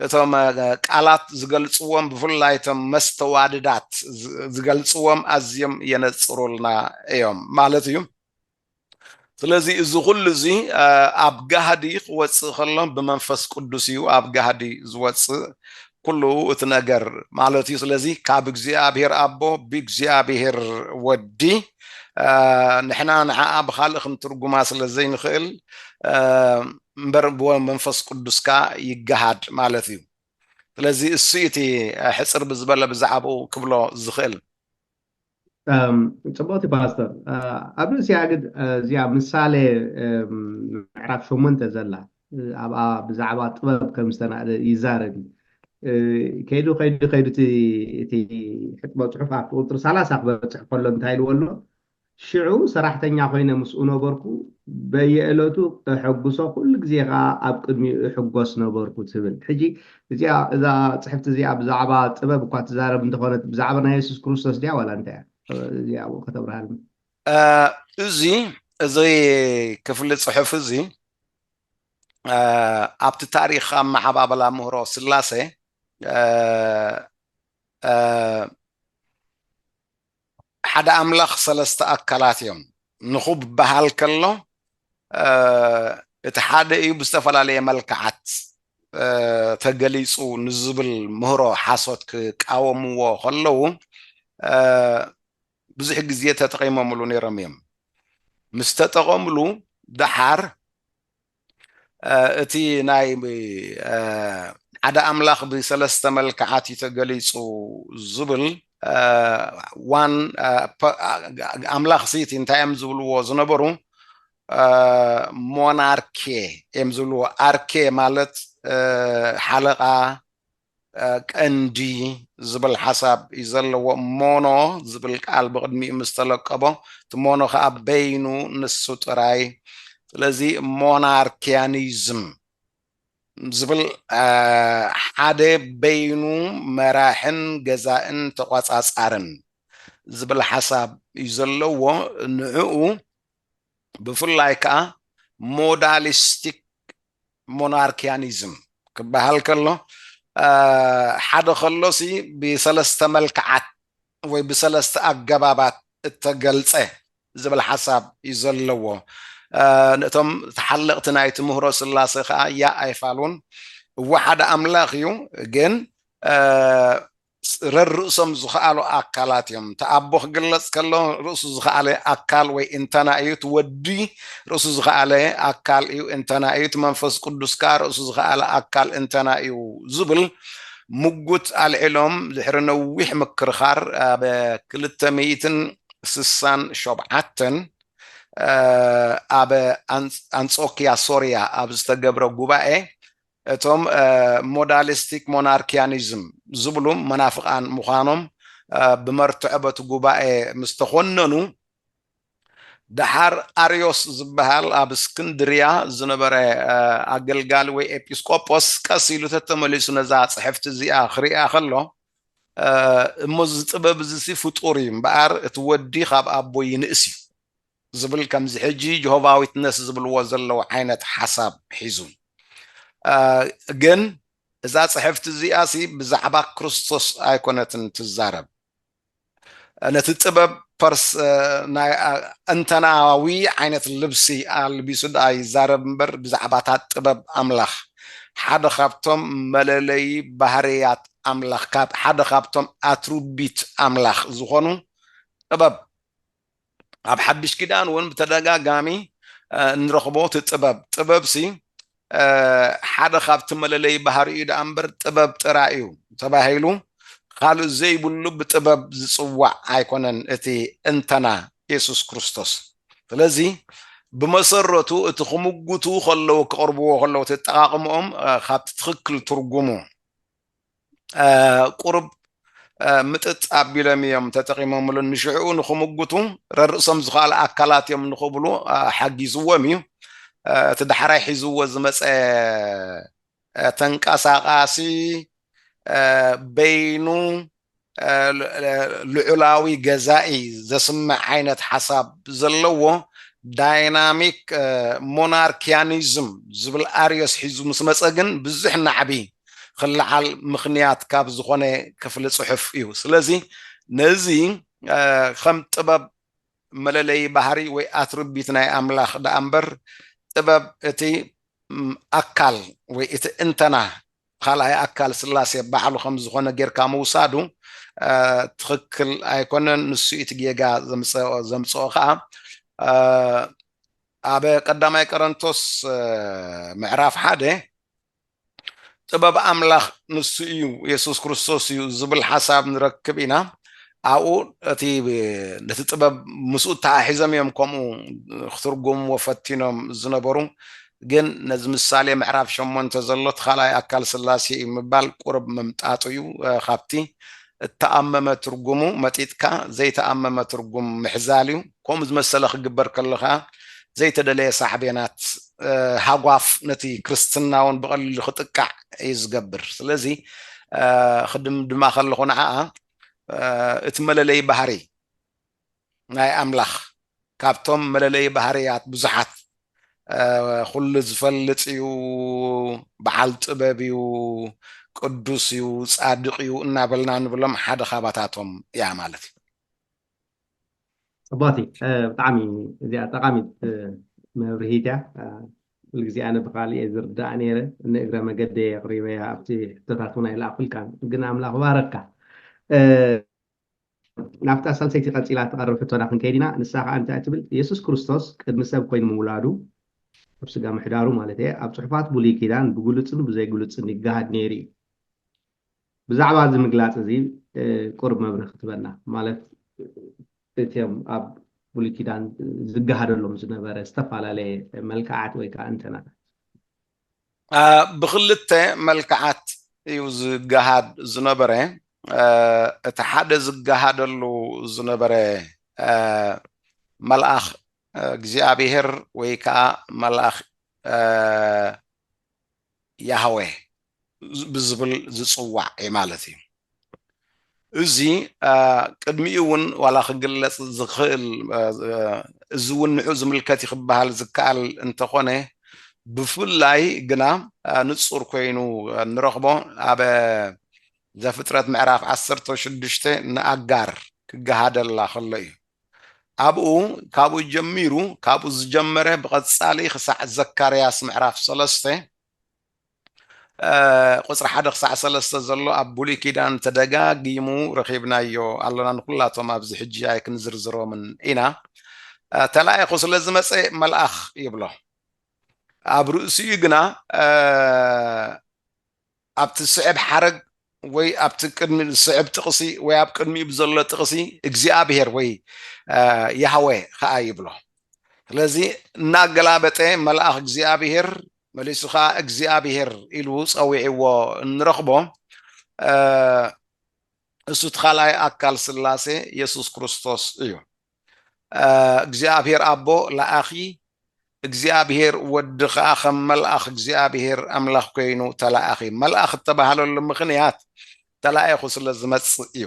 እቶም ቃላት ዝገልጽዎም ብፍላይ እቶም መስተዋድዳት ዝገልጽዎም ኣዝዮም የነጽሩልና እዮም ማለት እዩ። ስለዚ እዚ ኩሉ እዚ ኣብ ጋህዲ ክወጽእ ከሎ ብመንፈስ ቅዱስ እዩ ኣብ ጋህዲ ዝወጽእ ኩሉ እቲ ነገር ማለት እዩ ስለዚ ካብ እግዚኣብሔር ኣቦ ብእግዚኣብሔር ወዲ ንሕና ንዓኣ ብካልእ ክንትርጉማ ስለ ዘይንኽእል እምበር ብመንፈስ ቅዱስ ከዓ ይገሃድ ማለት እዩ ስለዚ እሱ እቲ ሕፅር ብዝበለ ብዛዕባኡ ክብሎ ዝኽእል ፅብቅቲ ፓስተር ኣብ ርእሲ ኣግድ እዚኣ ምሳሌ ምዕራፍ ሸሞንተ ዘላ ኣብኣ ብዛዕባ ጥበብ ከም ዝተናእደ ይዛረብ ከይዱ ከይዱ ከይዱ እቲ ሕጥበ ፅሑፍ ኣብቲ ቁፅሪ ሰላሳ ክበፅሕ ከሎ እንታይ ኢልዎ ኣሎ ሽዑ ሰራሕተኛ ኮይነ ምስኡ ነበርኩ፣ በየዕለቱ እሐጕሶ፣ ኵሉ ግዜ ኸኣ ኣብ ቅድሚኡ እሕጐስ ነበርኩ ትብል። ሕጂ እዚኣ እዛ ጽሕፍቲ እዚኣ ብዛዕባ ጥበብ እኳ ትዛረብ እንተ ዀነት ብዛዕባ ናይ የሱስ ክርስቶስ ድያ ዋላ እንታይ እያ? እዚ ኣብኡ ከተብርሃልና። እዚ እዚ ክፍሊ ጽሑፍ እዚ ኣብቲ ታሪኽ ኣመዓባብላ ምህሮ ስላሴ ሓደ ኣምላኽ ሰለስተ ኣካላት እዮም ንኹብበሃል ከሎ እቲ ሓደ እዩ ብዝተፈላለየ መልክዓት ተገሊጹ ንዝብል ምህሮ ሓሶት ክቃወምዎ ከለዉ ብዙሕ ግዜ ተጠቒሞምሉ ነይሮም እዮም ምስ ተጠቐምሉ ደሓር እቲ ናይ ሓደ ኣምላኽ ብሰለስተ መልክዓት እዩ ተገሊጹ ዝብል ዋን ኣምላኽ ሲ እቲ እንታይ እዮም ዝብልዎ ዝነበሩ ሞናርኬ እዮም ዝብልዎ። ኣርኬ ማለት ሓለቓ፣ ቀንዲ ዝብል ሓሳብ እዩ ዘለዎ ሞኖ ዝብል ቃል ብቕድሚኡ ምስ ተለቀቦ እቲ ሞኖ ከዓ በይኑ ንሱ ጥራይ ስለዚ ሞናርኪያኒዝም ዝብል ሓደ በይኑ መራሕን ገዛእን ተቋፃፃርን ዝብል ሓሳብ እዩ ዘለዎ ንዕኡ ብፍላይ ከዓ ሞዳሊስቲክ ሞናርኪያኒዝም ክበሃል ከሎ ሓደ ከሎሲ ብሰለስተ መልክዓት ወይ ብሰለስተ ኣገባባት እተገልጸ ዝብል ሓሳብ እዩ ዘለዎ። እቶም ተሓለቕቲ ናይ ትምህሮ ስላሴ ከኣ ያእ ኣይፋሉን። እወ ሓደ ኣምላኽ እዩ ግን ጽረር ርእሶም ዝኸኣሉ ኣካላት እዮም። እቲ ኣቦ ክግለጽ ከሎ ርእሱ ዝኸኣለ ኣካል ወይ እንተና እዩ፣ እቲ ወዲ ርእሱ ዝኸኣለ ኣካል እዩ፣ እንተና እዩ፣ እቲ መንፈስ ቅዱስ ከኣ ርእሱ ዝኸኣለ ኣካል እንተና እዩ ዝብል ምጉት ኣልዒሎም ድሕሪ ነዊሕ ምክርኻር ኣብ ክልተ ሚእትን ስሳን ሾብዓተን ኣብ ኣንጾክያ ሶርያ ኣብ ዝተገብረ ጉባኤ እቶም ሞዳሊስቲክ ሞናርኪያኒዝም ዝብሉ መናፍቓን ምዃኖም ብመርትዖ በቲ ጉባኤ ምስ ተኾነኑ፣ ደሓር ኣርዮስ ዝበሃል ኣብ እስክንድርያ ዝነበረ ኣገልጋሊ ወይ ኤጲስቆጶስ ቀስ ኢሉ ተተመሊሱ ነዛ ጽሕፍቲ እዚኣ ክርእያ ከሎ፣ እሞ እዚ ጥበብ እዚሲ ፍጡር እዩ እምበኣር እቲ ወዲ ካብ ኣቦ ይንእስ እዩ ዝብል ከምዚ ሕጂ ጆሆቫ ዊትነስ ዝብልዎ ዘለዉ ዓይነት ሓሳብ ሒዙ። ግን እዛ ጽሕፍቲ እዚኣሲ ብዛዕባ ክርስቶስ ኣይኮነትን ትዛረብ። ነቲ ጥበብ ፐርስ ናይ ኣእንተናዊ ዓይነት ልብሲ ኣልቢሱ ደኣ ይዛረብ እምበር ብዛዕባ እታ ጥበብ ኣምላኽ፣ ሓደ ካብቶም መለለዪ ባህርያት ኣምላኽ፣ ሓደ ካብቶም ኣትሩቢት ኣምላኽ ዝኾኑ ጥበብ ኣብ ሓድሽ ኪዳን እውን ብተደጋጋሚ እንረኽቦ እቲ ጥበብ ጥበብሲ ሓደ ካብቲ መለለይ ባህሪ እዩ ደኣ እምበር ጥበብ ጥራይ እዩ ተባሂሉ ካልእ ዘይብሉ ብጥበብ ዝፅዋዕ ኣይኮነን እቲ እንተና የሱስ ክርስቶስ ስለዚ ብመሰረቱ እቲ ክምጉቱ ከለዉ ክቕርብዎ ከለዉ እቲ ኣጠቓቕምኦም ካብቲ ትኽክል ትርጉሙ ቁሩብ ምጥጥ ኣቢሎም እዮም ተጠቂሞምሉ ንሽዕኡ ንክምጉቱ ረርእሶም ዝኸኣሉ ኣካላት እዮም ንክብሉ ሓጊዝዎም እዩ እቲ ዳሕራይ ሒዝዎ ዝመፀ ተንቀሳቃሲ በይኑ ልዑላዊ ገዛኢ ዘስምዕ ዓይነት ሓሳብ ዘለዎ ዳይናሚክ ሞናርኪያኒዝም ዝብል ኣርዮስ ሒዙ ምስ መፀ ግን ብዙሕ ናዕቢ ክለዓል ምኽንያት ካብ ዝኾነ ክፍሊ ፅሑፍ እዩ። ስለዚ ነዚ ከም ጥበብ መለለዪ ባህሪ ወይ ኣትርቢት ናይ ኣምላኽ ደኣ እምበር ጥበብ እቲ ኣካል ወይ እቲ እንተና ኻልኣይ ኣካል ስላሴ ባዕሉ ከም ዝኾነ ጌርካ ምውሳዱ ትኽክል ኣይኮነን ንሱ እዩ እቲ ጌጋ ዘምፀኦ ዘምፀኦ ኸዓ ኣብ ቀዳማይ ቀረንቶስ ምዕራፍ ሓደ ጥበብ ኣምላኽ ንሱ እዩ የሱስ ክርስቶስ እዩ ዝብል ሓሳብ ንረክብ ኢና ኣብኡ እቲ ነቲ ጥበብ ምስኡ ተሓሒዞም እዮም ከምኡ ክትርጉምዎ ፈቲኖም ዝነበሩ ግን ነዚ ምሳሌ ምዕራፍ ሸሞንተ ዘሎ እቲ ካልኣይ ኣካል ሥላሴ እዩ ምባል ቁርብ ምምጣጡ እዩ ካብቲ እተኣመመ ትርጉሙ መጢጥካ ዘይተኣመመ ትርጉም ምሕዛል እዩ ከምኡ ዝመሰለ ክግበር ከሎ ከኣ ዘይተደለየ ሳዕቤናት ሃጓፍ ነቲ ክርስትና እውን ብቐሊሉ ክጥቃዕ እዩ ዝገብር ስለዚ ክድምድማ ከለኹ ንዓኣ እቲ መለለዪ ባህሪ ናይ ኣምላኽ ካብቶም መለለዪ ባህርያት ብዙሓት ኩሉ ዝፈልጥ እዩ፣ በዓል ጥበብ እዩ፣ ቅዱስ እዩ፣ ጻድቕ እዩ እናበልና ንብሎም ሓደ ካባታቶም እያ ማለት እዩ። ጽቡቕቲ ብጣዕሚ እዚኣ ጠቓሚት መብርሂት እያ ኩሉ ግዜ ኣነ ብካልእ እየ ዝርዳእ ነይረ ንእግረ መገደ የቕሪበያ ኣብቲ ሕቶታት እውን ኣይለኣኹልካን ግን ኣምላኽ ባረካ ናብታ ሳልሰይቲ ቀጺላ እትቐርብ ሕቶና ክንከይድ ኢና፣ ንሳ ኸኣ እንታይ ትብል? የሱስ ክርስቶስ ቅድሚ ሰብ ኰይኑ ምውላዱ፣ ኣብ ስጋ ምሕዳሩ ማለተይ'የ፣ ኣብ ጽሑፋት ብሉይ ኪዳን ብግሉጽን ብዘይግሉጽን ይገሃድ ነይሩ እዩ። ብዛዕባ እዚ ምግላጽ እዚ ቁሩብ መብርሂ ክትበና፣ ማለት እቶም ኣብ ብሉይ ኪዳን ዝገሃደሎም ዝነበረ ዝተፈላለየ መልክዓት ወይ ከኣ እንተናታት። ብኽልተ መልክዓት እዩ ዝገሃድ ዝነበረ። እቲ ሓደ ዝገሃደሉ ዝነበረ መልኣኽ እግዚኣብሄር ወይ ከዓ መልኣኽ ያህዌ ብዝብል ዝፅዋዕ ማለት እዩ። እዚ ቅድሚኡ እውን ዋላ ክግለፅ ዝኽእል እዚ እውን ንዑ ዝምልከት እዩ ክበሃል ዝከኣል እንተኾነ ብፍላይ ግና ንፁር ኮይኑ እንረኽቦ ኣብ ዘፍጥረት ምዕራፍ ዓሰርተ ሽዱሽተ ንኣጋር ክገሃደላ ከሎ እዩ። ኣብኡ ካብኡ ጀሚሩ ካብኡ ዝጀመረ ብቐፃሊ ክሳዕ ዘካርያስ ምዕራፍ ሰለስተ ቁፅሪ ሓደ ክሳዕ ሰለስተ ዘሎ ኣብ ብሉይ ኪዳን ተደጋጊሙ ረኺብናዮ ኣሎና ንኩላቶም ኣብዚ ሕጂ ኣይክንዝርዝሮምን ኢና ተላኢኹ ስለ ዝመፀ መልኣኽ ይብሎ ኣብ ርእሲኡ ግና ኣብቲ ዝስዕብ ሓረግ ወይ ኣብቲ ቅድሚ ዝስዕብ ጥቕሲ ወይ ኣብ ቅድሚኡ ብዘሎ ጥቕሲ እግዚኣብሄር ወይ ያህወ ከዓ ይብሎ ስለዚ እናገላበጠ መልኣኽ እግዚኣብሄር መሊሱ ከዓ እግዚኣብሄር ኢሉ ፀዊዕዎ እንረኽቦ እሱ እቲ ካልኣይ ኣካል ስላሴ የሱስ ክርስቶስ እዩ እግዚኣብሔር ኣቦ ለኣኺ እግዚኣብሔር ወዲ ከኣ ከም መልኣኽ እግዚኣብሔር ኣምላኽ ኮይኑ ተለኣኺ መልኣኽ እተባህለሉ ምኽንያት ተላኢኹ ስለ ዝመጽእ እዩ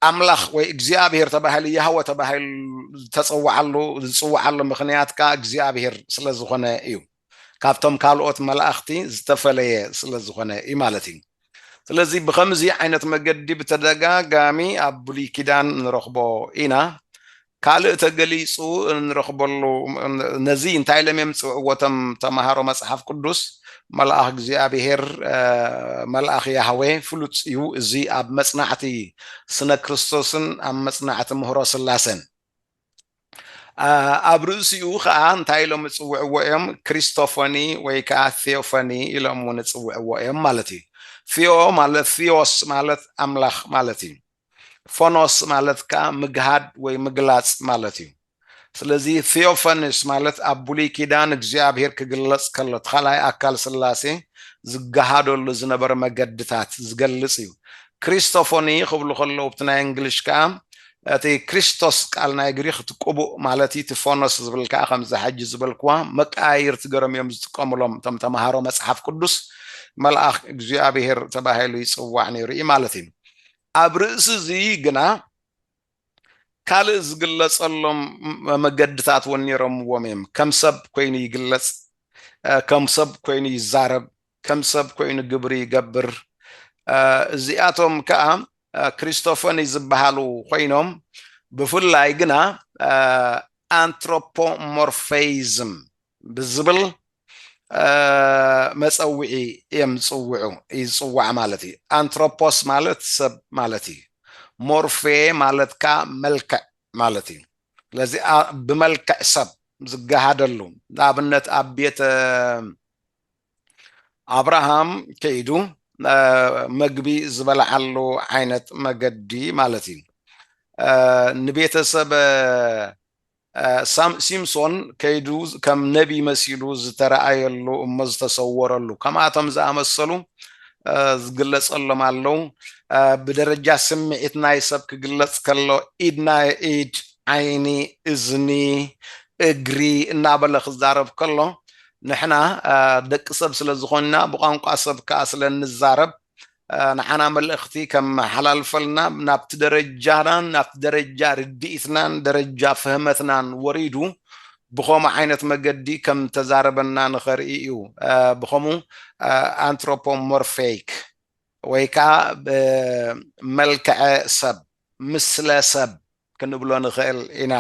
ኣምላኽ ወይ እግዚኣብሔር ተባሂሉ ያህወ ተባሂሉ ዝተጸውዓሉ ዝጽውዓሉ ምኽንያት ከኣ እግዚኣብሔር ስለ ዝኾነ እዩ ካብቶም ካልኦት መላእኽቲ ዝተፈለየ ስለ ዝኾነ እዩ ማለት እዩ። ስለዚ ብኸምዚ ዓይነት መገዲ ብተደጋጋሚ ኣብ ብሉይ ኪዳን ንረኽቦ ኢና። ካልእ ተገሊጹ እንረኽበሉ ነዚ እንታይ ኢሎም እዮም ዝጽውዕዎ እቶም ተማሃሮ መጽሓፍ ቅዱስ? መልኣኽ እግዚኣብሄር፣ መልኣኽ ያህዌ፣ ፍሉጥ እዩ እዚ ኣብ መጽናዕቲ ስነ ክርስቶስን ኣብ መጽናዕቲ ምህሮ ስላሴን። ኣብ ርእሲኡ ኸኣ እንታይ ኢሎም እጽውዕዎ እዮም ክሪስቶፎኒ ወይ ከኣ ቴዎፎኒ ኢሎም እውን እጽውዕዎ እዮም ማለት እዩ ቴዎ ማለት ቴዎስ ማለት ኣምላኽ ማለት እዩ ፎኖስ ማለት ከኣ ምግሃድ ወይ ምግላጽ ማለት እዩ ስለዚ ቴዎፈንስ ማለት ኣብ ብሉይ ኪዳን እግዚኣብሄር ክግለጽ ከሎ እቲ ካልኣይ ኣካል ስላሴ ዝገሃደሉ ዝነበረ መገድታት ዝገልጽ እዩ ክሪስቶፎኒ ክብሉ ከለዉ ብቲ ናይ እንግሊሽ ከኣ እቲ ክሪስቶስ ቃል ናይ ግሪኽ እቲ ቅቡእ ማለት እቲ ፎኖስ ዝብል ከኣ ከምዛ ሕጂ ዝበልክዋ መቀያይርቲ ገሮም እዮም ዝጥቀምሎም እቶም ተማሃሮ መጽሓፍ ቅዱስ መልኣኽ እግዚኣብሄር ተባሂሉ ይጽዋዕ ነይሩ እዩ ማለት እዩ ኣብ ርእሲ እዚ ግና ካልእ ዝግለጸሎም መገድታት እውን ነይሮምዎም እዮም ከም ሰብ ኮይኑ ይግለጽ ከም ሰብ ኮይኑ ይዛረብ ከም ሰብ ኮይኑ ግብሪ ይገብር። እዚኣቶም ከኣ ክሪስቶፈኒ ዝበሃሉ ኮይኖም ብፍላይ ግና ኣንትሮፖሞርፌይዝም ብዝብል መጸውዒ እዮም ዝጽውዑ እዩ ዝጽዋዕ ማለት እዩ። ኣንትሮፖስ ማለት ሰብ ማለት እዩ። ሞርፌ ማለት ከኣ መልክዕ ማለት እዩ። ስለዚ ብመልክዕ ሰብ ዝገሃደሉ ንኣብነት ኣብ ቤተ ኣብርሃም ከይዱ መግቢ ዝበልዓሉ ዓይነት መገዲ ማለት እዩ ንቤተሰብ ሲምሶን ከይዱ ከም ነቢ መሲሉ ዝተረኣየሉ እሞ ዝተሰወረሉ ከምኣቶም ዝኣመሰሉ ዝግለጸሎም ኣለው ብደረጃ ስምዒት ናይ ሰብ ክግለጽ ከሎ ኢድና ኢድ ዓይኒ እዝኒ እግሪ እናበለ ክዛረብ ከሎ ንሕና ደቂ ሰብ ስለ ዝኾንና ብቋንቋ ሰብ ከኣ ስለ እንዛረብ ንዓና መልእኽቲ ከመሓላልፈልና ናብቲ ደረጃናን ናብቲ ደረጃ ርድኢትናን ደረጃ ፍህመትናን ወሪዱ ብኸምኡ ዓይነት መገዲ ከም ተዛረበና ንኸርኢ እዩ ብኸምኡ ኣንትሮፖሞርፌይክ ወይ ከዓ መልክዐ ሰብ ምስለ ሰብ ክንብሎ ንኽእል ኢና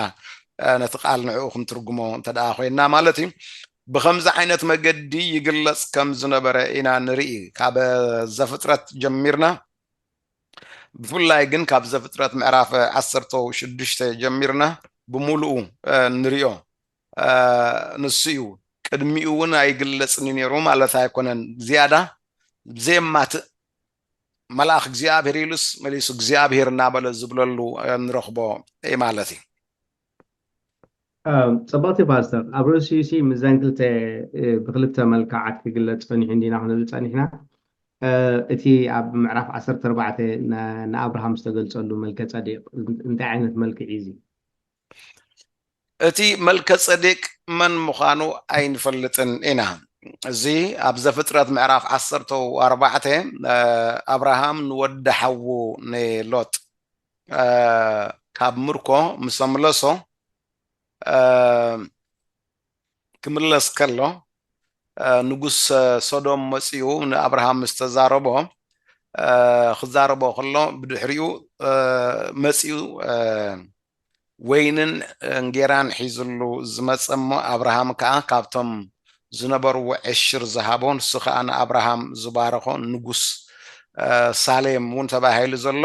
ነቲ ቃል ንዕኡ ክንትርጉሞ እንተደኣ ኮይንና ማለት እዩ ብከምዚ ዓይነት መገዲ ይግለጽ ከም ዝነበረ ኢና ንርኢ ካብ ዘፍጥረት ጀሚርና ብፍላይ ግን ካብ ዘፍጥረት ምዕራፍ ዓሰርተ ሽዱሽተ ጀሚርና ብምሉኡ ንሪኦ ንሱ እዩ ቅድሚኡ እውን ኣይግለጽን ነይሩ ማለት ኣይኮነን ዝያዳ ዘየማትእ መልኣኽ እግዚኣብሔር ኢሉስ መሊሱ እግዚኣብሔር እናበለ ዝብለሉ ንረኽቦ ማለት እዩ። ጸብቕቲ ፓስተር ኣብ ርእሲኡሲ ምስዘን ክልተ ብክልተ መልክዓት ክግለጽ ጸኒሑ እንዲና ክንብል ጸኒሕና እቲ ኣብ ምዕራፍ ዓሰርተ ኣርባዕተ ንኣብርሃም ዝተገልጸሉ መልከ ጸዴቅ እንታይ ዓይነት መልክዕ እዩ እዚ? እቲ መልከጼዴቅ መን ምዃኑ ኣይንፈልጥን ኢና። እዚ ኣብ ዘፍጥረት ምዕራፍ ዓሰርተ ኣርባዕተ ኣብርሃም ንወዲ ሓዉ ንሎጥ ካብ ምርኮ ምስ ኣምለሶ ክምለስ ከሎ ንጉስ ሶዶም መጺኡ ንኣብርሃም ምስ ተዛረቦ ክዛረቦ ከሎ ብድሕሪኡ መጺኡ ወይንን እንጌራን ሒዝሉ ዝመጸ እሞ ኣብርሃም ከኣ ካብቶም ዝነበርዎ ዕሽር ዝሃቦ ንሱ ከኣ ንኣብርሃም ዝባረኾ ንጉስ ሳሌም እውን ተባሂሉ ዘሎ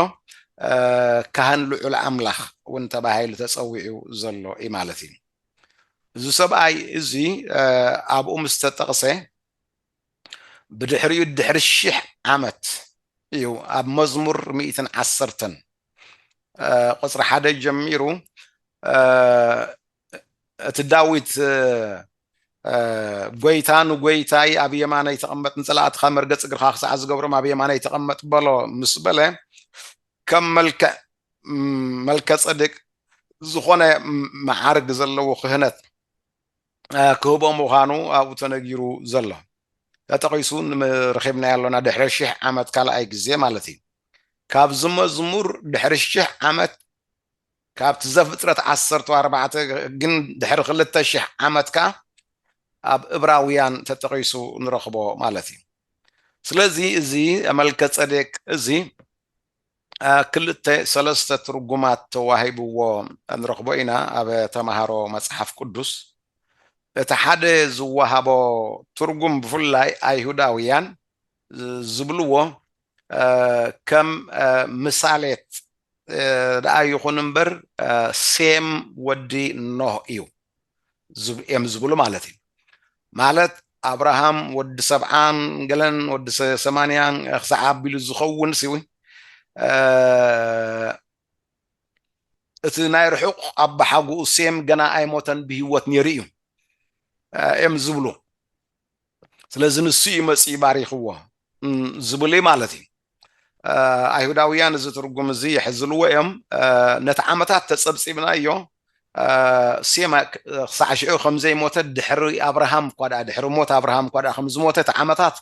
ካህን ልዑል ኣምላኽ እውን ተባሂሉ ተጸዊዑ ዘሎ እዩ ማለት እዩ። እዚ ሰብኣይ እዚ ኣብኡ ምስ ተጠቕሰ ብድሕሪኡ ድሕሪ ሽሕ ዓመት እዩ ኣብ መዝሙር ሚእትን ዓሰርተን ቁፅሪ ሓደ ጀሚሩ እቲ ዳዊት ጎይታ ንጎይታይ ኣብ የማነይ ተቐመጥ ንፀላእትኻ መርገፂ እግርኻ ክሳዕ ዝገብሮም ኣብ የማነይ ተቐመጥ በሎ ምስ በለ ከም መልክዕ መልከ ጸድቅ ዝኾነ መዓርግ ዘለዎ ክህነት ክህቦ ምዃኑ ኣብኡ ተነጊሩ ዘሎ ተጠቒሱ ረኺብናዮ ኣሎና ድሕሪ ሽሕ ዓመት ካልኣይ ግዜ ማለት እዩ ካብዚ መዝሙር ድሕሪ ሽሕ ዓመት ካብቲ ዘፍጥረት ዓሰርተ ኣርባዕተ ግን ድሕሪ ክልተ ሽሕ ዓመት ከኣ ኣብ እብራውያን ተጠቒሱ ንረኽቦ ማለት እዩ ስለዚ እዚ መልከ ጸዴቅ እዚ ክልተ ሰለስተ ትርጉማት ተዋሂብዎ ንረኽቦ ኢና ኣብ ተማሃሮ መጽሓፍ ቅዱስ። እቲ ሓደ ዝወሃቦ ትርጉም ብፍላይ ኣይሁዳውያን ዝብልዎ ከም ምሳሌት ደኣ ይኹን እምበር ሴም ወዲ ኖህ እዩ። እዮም ዝብሉ ማለት እዩ ማለት ኣብርሃም ወዲ ሰብዓን ገለን ወዲ ሰማንያን ክሳዕ ኣቢሉ ዝኸውን ሲ እቲ ናይ ርሑቕ ኣባሓጉኡ ሴም ገና ኣይሞተን ብሂወት ነይሩ እዩ እዮም ዝብሉ ስለዚ ንሱ እዩ መጺኡ ባሪኽዎ ዝብል እዩ ማለት እዩ። ኣይሁዳውያን እዚ ትርጉም እዚ ይሕዝልዎ እዮም። ነቲ ዓመታት ተጸብጺብናዮ ሴም ክሳዕ ሽዑ ከም ዘይሞተ ድሕሪ ኣብርሃም እኳ ደኣ ድሕሪ ሞት ኣብርሃም እኳ ደኣ ከም ዝሞተ እቲ ዓመታት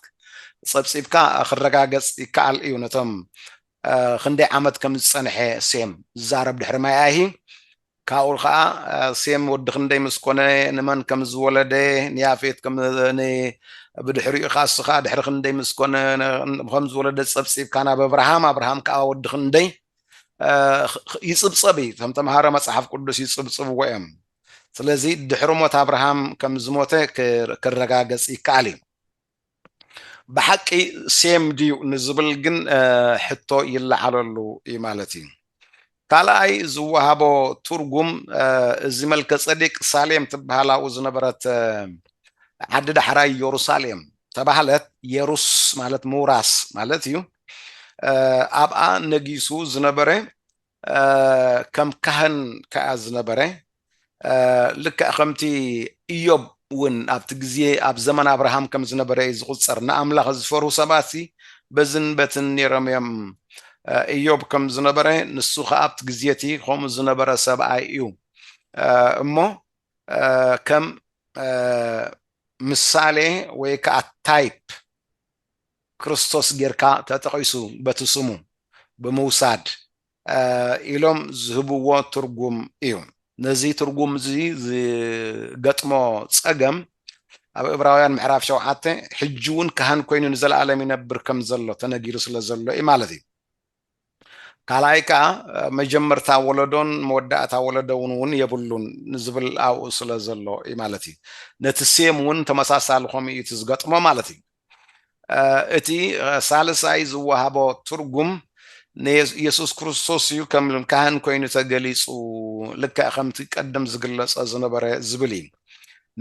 ጸብጺብካ ክረጋገጽ ይከኣል እዩ። ነቶም ክንደይ ዓመት ከም ዝጸንሐ ሴም ዝዛረብ ድሕሪ ማይ ኣይሂ ካብኡ ኸኣ ሴም ወዲ ክንደይ ምስ ኰነ፣ ንመን ከም ዝወለደ፣ ንያፌት ከም ን ብድሕሪኡ ኻስኻ ድሕሪ ክንደይ ምስ ኰነ ከም ዝወለደ ጸብጺብካ ናብ ኣብርሃም፣ ኣብርሃም ከኣ ወዲ ክንደይ ይጽብጸብ እዩ። እቶም ተመሃሮ መጽሓፍ ቅዱስ ይጽብጽብዎ እዮም። ስለዚ ድሕሪ ሞት ኣብርሃም ከም ዝሞተ ክረጋገጽ ይከኣል እዩ። ብሓቂ ሴም ድዩ ንዝብል ግን ሕቶ ይለዓለሉ እዩ ማለት እዩ። ካልኣይ ዝወሃቦ ትርጉም እዚ መልከጸዴቅ ሳሌም ትበሃል ኣብኡ ዝነበረት ዓዲ ዳሕራይ ዮሩሳሌም ተባህለት የሩስ ማለት ምውራስ ማለት እዩ ኣብኣ ነጊሱ ዝነበረ ከም ካህን ከኣ ዝነበረ፣ ልክዕ ከምቲ እዮብ እውን ኣብቲ ግዜ ኣብ ዘመን ኣብርሃም ከም ዝነበረ እዩ ዝቝጸር። ንኣምላኽ ዝፈርሁ ሰባትሲ በዝን በትን ነይሮም እዮም። እዮብ ከም ዝነበረ፣ ንሱ ኸኣ ኣብቲ ግዜ እቲ ኸምኡ ዝነበረ ሰብኣይ እዩ እሞ፣ ከም ምሳሌ ወይ ከኣ ታይፕ፣ ክርስቶስ ጌርካ ተጠቒሱ በቲ ስሙ ብምውሳድ ኢሎም ዝህብዎ ትርጉም እዩ። ነዚ ትርጉም እዚ ዝገጥሞ ጸገም ኣብ እብራውያን ምዕራፍ ሸውዓተ ሕጂ እውን ካህን ኮይኑ ንዘለኣለም ይነብር ከም ዘሎ ተነጊሩ ስለ ዘሎ እዩ ማለት እዩ። ካልኣይ ከኣ መጀመርታ ወለዶን መወዳእታ ወለዶውን እውን የብሉን ዝብል ኣብኡ ስለ ዘሎ እዩ ማለት እዩ። ነቲ ሴም እውን ተመሳሳሊ ከምኡ እዩ እቲ ዝገጥሞ ማለት እዩ። እቲ ሳልሳይ ዝወሃቦ ትርጉም ንየሱስ ክርስቶስ እዩ ከም ካህን ኮይኑ ተገሊጹ ልክዕ ከምቲ ቀደም ዝግለጸ ዝነበረ ዝብል እዩ።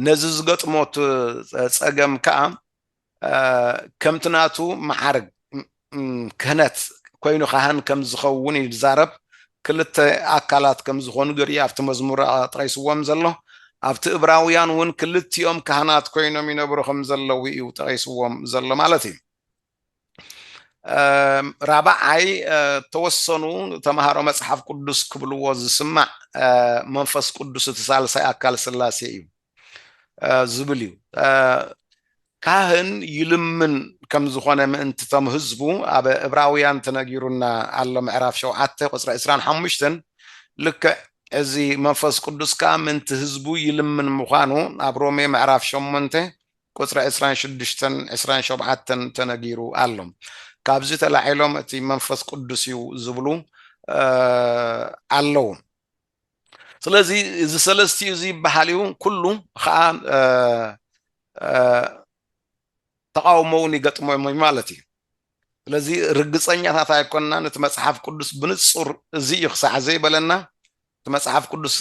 ነዚ ዝገጥሞ ጸገም ከኣ ከምቲ ናቱ መዓርግ ክህነት ኮይኑ ካህን ከም ዝኸውን እዩ ዝዛረብ። ክልተ ኣካላት ከም ዝኾኑ ገርዩ ኣብቲ መዝሙር ጠቒስዎም ዘሎ። ኣብቲ እብራውያን እውን ክልቲኦም ካህናት ኮይኖም ይነብሩ ከም ዘለዉ እዩ ጠቒስዎም ዘሎ ማለት እዩ። ራብዓይ ተወሰኑ ተምሃሮ መጽሓፍ ቅዱስ ክብልዎ ዝስማዕ መንፈስ ቅዱስ እቲ ሳልሳይ ኣካል ስላሴ እዩ። ዝብል እዩ ካህን ይልምን ከም ዝኾነ ምእንቲ ቶም ህዝቡ ኣብ እብራውያን ተነጊሩና ኣሎ ምዕራፍ ሸውዓተ ቁፅሪ ዕስራን ሓሙሽተን ልክዕ እዚ መንፈስ ቅዱስ ከዓ ምእንቲ ህዝቡ ይልምን ምዃኑ ኣብ ሮሜ ምዕራፍ ሸሞንተ ቁፅሪ ዕስራን ሽዱሽተን ዕስራን ሸውዓተን ተነጊሩ ኣሎ ካብዚ ተላዒሎም እቲ መንፈስ ቅዱስ እዩ ዝብሉ ኣለዉ ስለዚ እዚ ሰለስቲኡ እዚ ይበሃል እዩ ኩሉ ከዓ ተቃውሞ እውን ይገጥሞም እዩ ማለት እዩ ስለዚ ርግፀኛታት ኣይኮንናን እቲ መፅሓፍ ቅዱስ ብንፁር እዚ እዩ ክሳዕ ዘይበለና እቲ መፅሓፍ ቅዱስ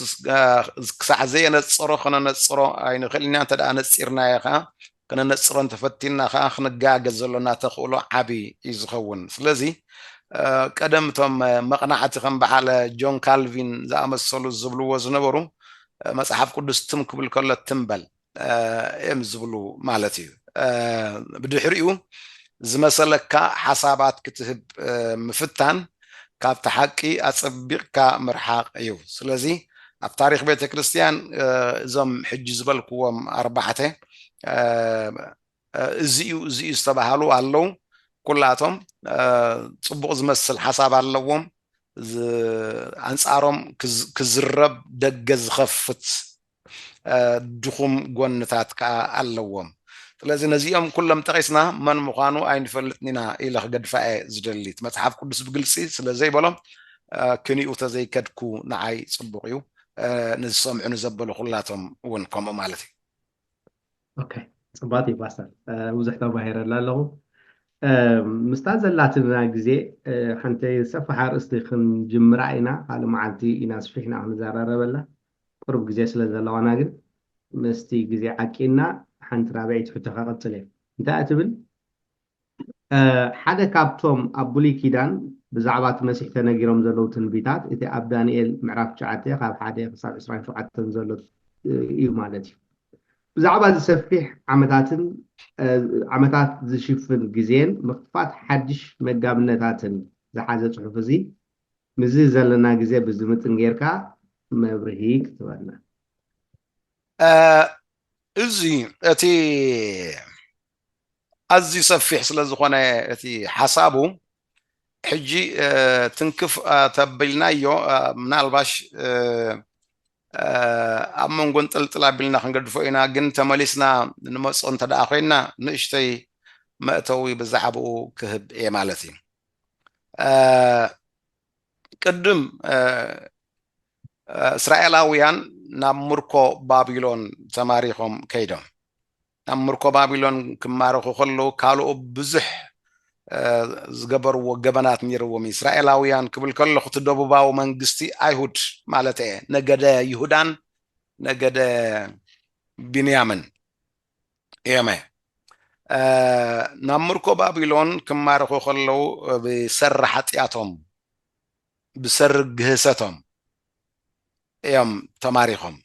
ክሳዕ ዘየነፀሮ ከነነፅሮ ኣይንኽእል ኢና እንተ ነፂርናዮ ከዓ ከነነጽሮ እንተፈቲንና ከኣ ክንጋገ ዘሎና ተኽእሎ ዓቢ እዩ ዝኸውን። ስለዚ ቀደም እቶም መቕናዕቲ ከም በዓል ጆን ካልቪን ዝኣመሰሉ ዝብልዎ ዝነበሩ መጽሓፍ ቅዱስ ትም ክብል ከሎ ትም በል እዮም ዝብሉ ማለት እዩ። ብድሕሪኡ ዝመሰለካ ሓሳባት ክትህብ ምፍታን ካብቲ ሓቂ ኣጸቢቕካ ምርሓቕ እዩ። ስለዚ ኣብ ታሪኽ ቤተ ክርስቲያን እዞም ሕጂ ዝበልክዎም ኣርባዕተ እዚ እዩ እዚ እዩ ዝተባሃሉ ኣለዉ። ኩላቶም ጽቡቕ ዝመስል ሓሳብ ኣለዎም። ኣንጻሮም ክዝረብ ደገ ዝኸፍት ድኹም ጎንታት ከኣ ኣለዎም። ስለዚ ነዚኦም ኩሎም ጠቒስና መን ምዃኑ ኣይንፈልጥን ኢና ኢለ ክገድፋ እየ ዝደሊ። እቲ መጽሓፍ ቅዱስ ብግልጺ ስለ ዘይበሎ ክኒኡ ተዘይከድኩ ንዓይ ጽቡቕ እዩ፣ ንዝሰምዑኒ ዘበሉ ኩላቶም እውን ከምኡ ማለት እዩ። ኦኬ ጽቡቓት እዩ ፓስተር ብዙሕ ተማሂረላ ኣለኹ። ምስታ ዘላትና ግዜ ሓንቲ ሰፋሕ ኣርእስቲ ክንጅምራ ኢና፣ ካልእ መዓልቲ ኢና ኣስፊሕና ክንዘራረበላ። ቅሩብ ግዜ ስለ ዘለዋና ግን ምስቲ ግዜ ዓቂንና ሓንቲ ራብዐይቲ ሕቶ ከቕጽል እየ። እንታይ እያ ትብል? ሓደ ካብቶም ኣብ ብሉይ ኪዳን ብዛዕባ እቲ መሲሕ ተነጊሮም ዘለዉ ትንቢታት እቲ ኣብ ዳንኤል ምዕራፍ ትሽዓተ ካብ ሓደ ክሳብ ዕስራን ሸውዓተን ዘሎ እዩ ማለት እዩ። ብዛዕባ እዚ ሰፊሕ ዓመታትን ዓመታት ዝሽፍን ግዜን ምኽፋት ሓድሽ መጋብነታትን ዝሓዘ ጽሑፍ እዚ ምስዚ ዘለና ግዜ ብዝምጥን ጌርካ መብርሂ ክትበና። እዚ እቲ ኣዝዩ ሰፊሕ ስለ ዝኾነ እቲ ሓሳቡ ሕጂ ትንክፍ ተቢልናዮ ምናልባሽ ኣብ መንጎ እንጥልጥል ኣቢልና ክንገድፎ ኢና ግን ተመሊስና ንመጾ እንተ ደኣ ኮይና ንእሽተይ መእተዊ ብዛዕባኡ ክህብ እየ ማለት እዩ። ቅድም እስራኤላውያን ናብ ምርኮ ባቢሎን ተማሪኾም ከይዶም ናብ ምርኮ ባቢሎን ክማረኹ ከለዉ ካልኦ ብዙሕ ዝገበርዎ ገበናት ነይርዎም እስራኤላውያን ክብል ከለኹ እቲ ደቡባዊ መንግስቲ ኣይሁድ ማለት እየ ነገደ ይሁዳን ነገደ ቢንያምን እዮም። ናብ ምርኮ ባቢሎን ክማረኹ ከለዉ ብሰሪ ሓጢኣቶም ብሰሪ ግህሰቶም እዮም ተማሪኾም።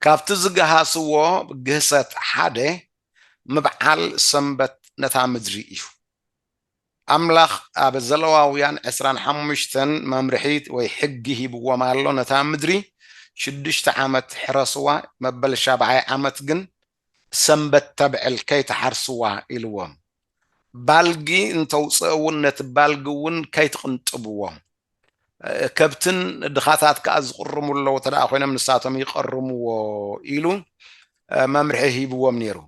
ካብቲ ዝገሃስዎ ግህሰት ሓደ ምብዓል ሰንበት ነታ ምድሪ እዩ። ኣምላኽ ኣብ ዘለዋውያን ዕስራን ሓሙሽተን መምርሒት ወይ ሕጊ ሂብዎም ኣሎ፣ ነታ ምድሪ ሽዱሽተ ዓመት ሕረስዋ፣ መበል ሻብዓይ ዓመት ግን ሰንበት ተብዕል ከይትሓርስዋ ኢልዎም። ባልጊ እንተውጽእ እውን ነቲ ባልጊ እውን ከይትቕንጥብዎ። ከብትን ድኻታት ከኣ ዝቕርሙ ኣለዉ ተደኣ ኮይኖም ንሳቶም ይቐርምዎ ኢሉ መምርሒ ሂብዎም ነይሩ።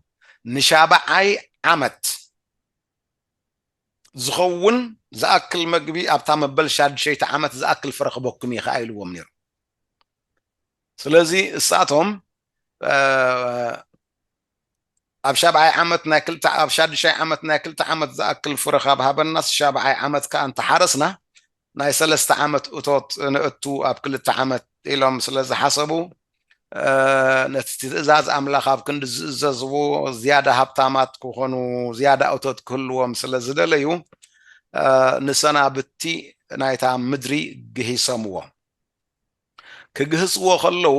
ንሻብዓይ ዓመት። ዝኸውን ዝኣክል መግቢ ኣብታ መበል ሻድሸይቲ ዓመት ዝኣክል ፍረ ክበኩም እየ ከኣ ኢልዎም ነይሩ። ስለዚ እሳቶም ኣብ ሻብዓይ ዓመት ናይ ክልተ ኣብ ሻድሻይ ዓመት ናይ ክልተ ዓመት ዝኣክል ፍረ ካብ ሃበናስ ሻብዓይ ዓመት ከኣ እንተሓረስና ናይ ሰለስተ ዓመት እቶት ነእቱ ኣብ ክልተ ዓመት ኢሎም ስለ ዝሓሰቡ፣ ነቲ ትእዛዝ ኣምላኽ ኣብ ክንዲ ዚእዘዝዎ፣ ዝያዳ ሃብታማት ኪዀኑ፣ ዝያዳ እቶት ኪህልዎም ስለ ዝደለዩ፣ ንሰናብቲ ናይታ ምድሪ ግሂሶምዎ። ኪግህስዎ ኸለዉ፣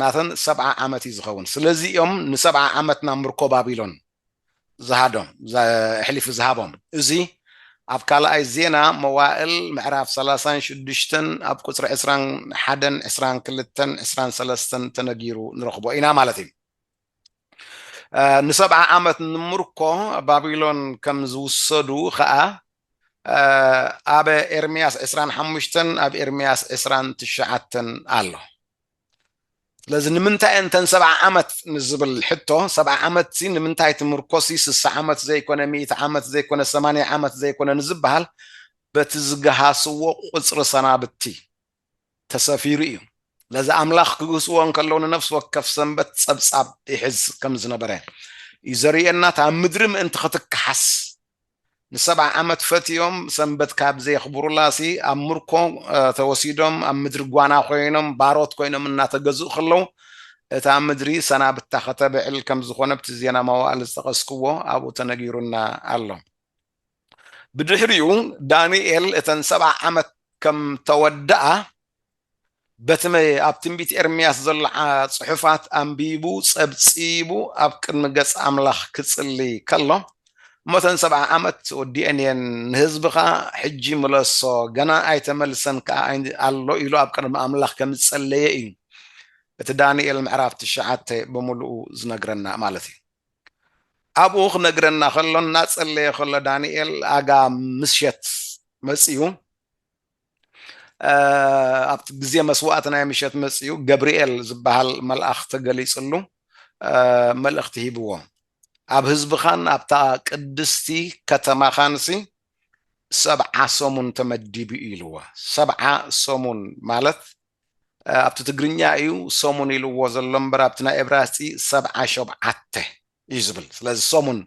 ናተን ሰብዓ ዓመት እዩ ዝኸውን ስለዚ እዮም ንሰብዓ ዓመት ናብ ምርኮ ባቢሎን ዝሃዶም ኣሕሊፉ ዝሃቦም እዚ ኣብ ካልኣይ ዜና መዋእል ምዕራፍ ሰላሳን ሽዱሽተን ኣብ ቁፅሪ ዕስራን ሓደን ዕስራን ክልተን ዕስራን ሰለስተን ተነጊሩ ንረኽቦ ኢና ማለት እዩ ንሰብዓ ዓመት ንምርኮ ባቢሎን ከም ዝውሰዱ ኸኣ ኣብ ኤርምያስ ዕስራን ሓሙሽተን ኣብ ኤርምያስ ዕስራን ትሽዓተን ኣሎ ስለዚ ንምንታይ እንተን ሰብዓ ዓመት ንዝብል ሕቶ ሰብዓ ዓመት ሲ ንምንታይ እቲ ምርኮሲ ስሳ ዓመት ዘይኮነ ሚእቲ ዓመት ዘይኮነ ሰማንያ ዓመት ዘይኮነ ንዝበሃል በቲ ዝገሃስዎ ቁፅሪ ሰናብቲ ተሰፊሩ እዩ። ስለዚ ኣምላኽ ክግህስዎ እንከለዉ ንነፍሲ ወከፍ ሰንበት ጸብጻብ ይሕዝ ከም ዝነበረ እዩ ዘርእየና። እታ ምድሪ ምእንቲ ክትከሓስ ንሰብዓ ዓመት ፈትዮም ሰንበት ካብ ዘየኽብሩላሲ ኣብ ምርኮ ተወሲዶም ኣብ ምድሪ ጓና ኮይኖም ባሮት ኮይኖም እናተገዝኡ ከለዉ እታ ምድሪ ሰናብታ ከተብዕል ከም ዝኾነ ኣብቲ ዜና መዋእል ዝጠቐስክዎ ኣብኡ ተነጊሩና ኣሎ። ብድሕሪኡ ዳንኤል እተን ሰብዓ ዓመት ከም ተወድኣ በቲ ኣብ ትንቢት ኤርምያስ ዘሎ ጽሑፋት ኣንቢቡ ጸብጺቡ ኣብ ቅድሚ ገጽ ኣምላኽ ክጽሊ ከሎ እሞተን ሰብዓ ዓመት ወዲኤን እየን ንህዝብኻ ሕጂ ምለሶ ገና ኣይተመልሰን ከዓ ኣሎ ኢሉ ኣብ ቅድሚ ኣምላኽ ከም ዝጸለየ እዩ እቲ ዳንኤል ምዕራፍ ትሽዓተ ብምልኡ ዝነግረና ማለት እዩ ኣብኡ ክነግረና ከሎ እናጸለየ ከሎ ዳንኤል ኣጋ ምሸት መጽዩ ኣብቲ ግዜ መስዋእቲ ናይ ምሸት መጽዩ ገብርኤል ዝበሃል መልኣኽ ተገሊጽሉ መልእኽቲ ሂብዎ ኣብ ህዝብኻን ኣብታ ቅድስቲ ከተማኻንሲ ሰብዓ ሰሙን ተመዲቡ ኢልዎ ሰብዓ ሰሙን ማለት ኣብቲ ትግርኛ እዩ ሰሙን ኢልዎ ዘሎ እምበር ኣብቲ ናይ ኤብራስጢ ሰብዓ ሾብዓተ እዩ ዝብል ስለዚ ሰሙን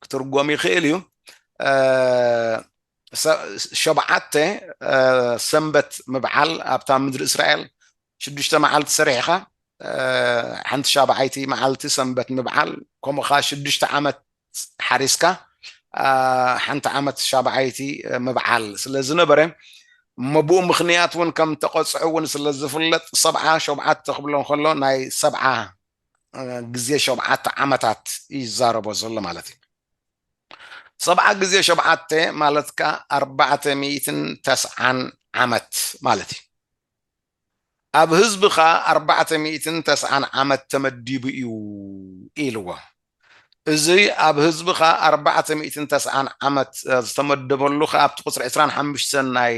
ክትርጎም ይኽእል እዩ ሸብዓተ ሰንበት ምብዓል ኣብታ ምድሪ እስራኤል ሽዱሽተ መዓልቲ ሰሪሕኻ ሓንቲ ሻብዓይቲ መዓልቲ ሰንበት ምብዓል ከምኡ ከዓ ሽዱሽተ ዓመት ሓሪስካ ሓንቲ ዓመት ሻብዓይቲ ምብዓል ስለ ዝነበረ እሞ ብኡ ምኽንያት እውን ከም ተቐፅዑ እውን ስለ ዝፍለጥ ሰብዓ ሸብዓተ ክብሎ ከሎ ናይ ሰብዓ ግዜ ሸብዓተ ዓመታት እዩ ዝዛረቦ ዘሎ ማለት እዩ ሰብዓ ግዜ ሸብዓተ ማለት ከዓ ኣርባዕተ ሚእትን ተስዓን ዓመት ማለት እዩ ኣብ ህዝቢ ከኣ ኣርባዕተ ሚእትን ተስዓን ዓመት ተመዲቡ እዩ ኢልዎ። እዚ ኣብ ህዝቢ ከኣ ኣርባዕተ ሚእትን ተስዓን ዓመት ዝተመደበሉ ከኣ ኣብቲ ቁጽሪ ዕስራን ሓምሽተን ናይ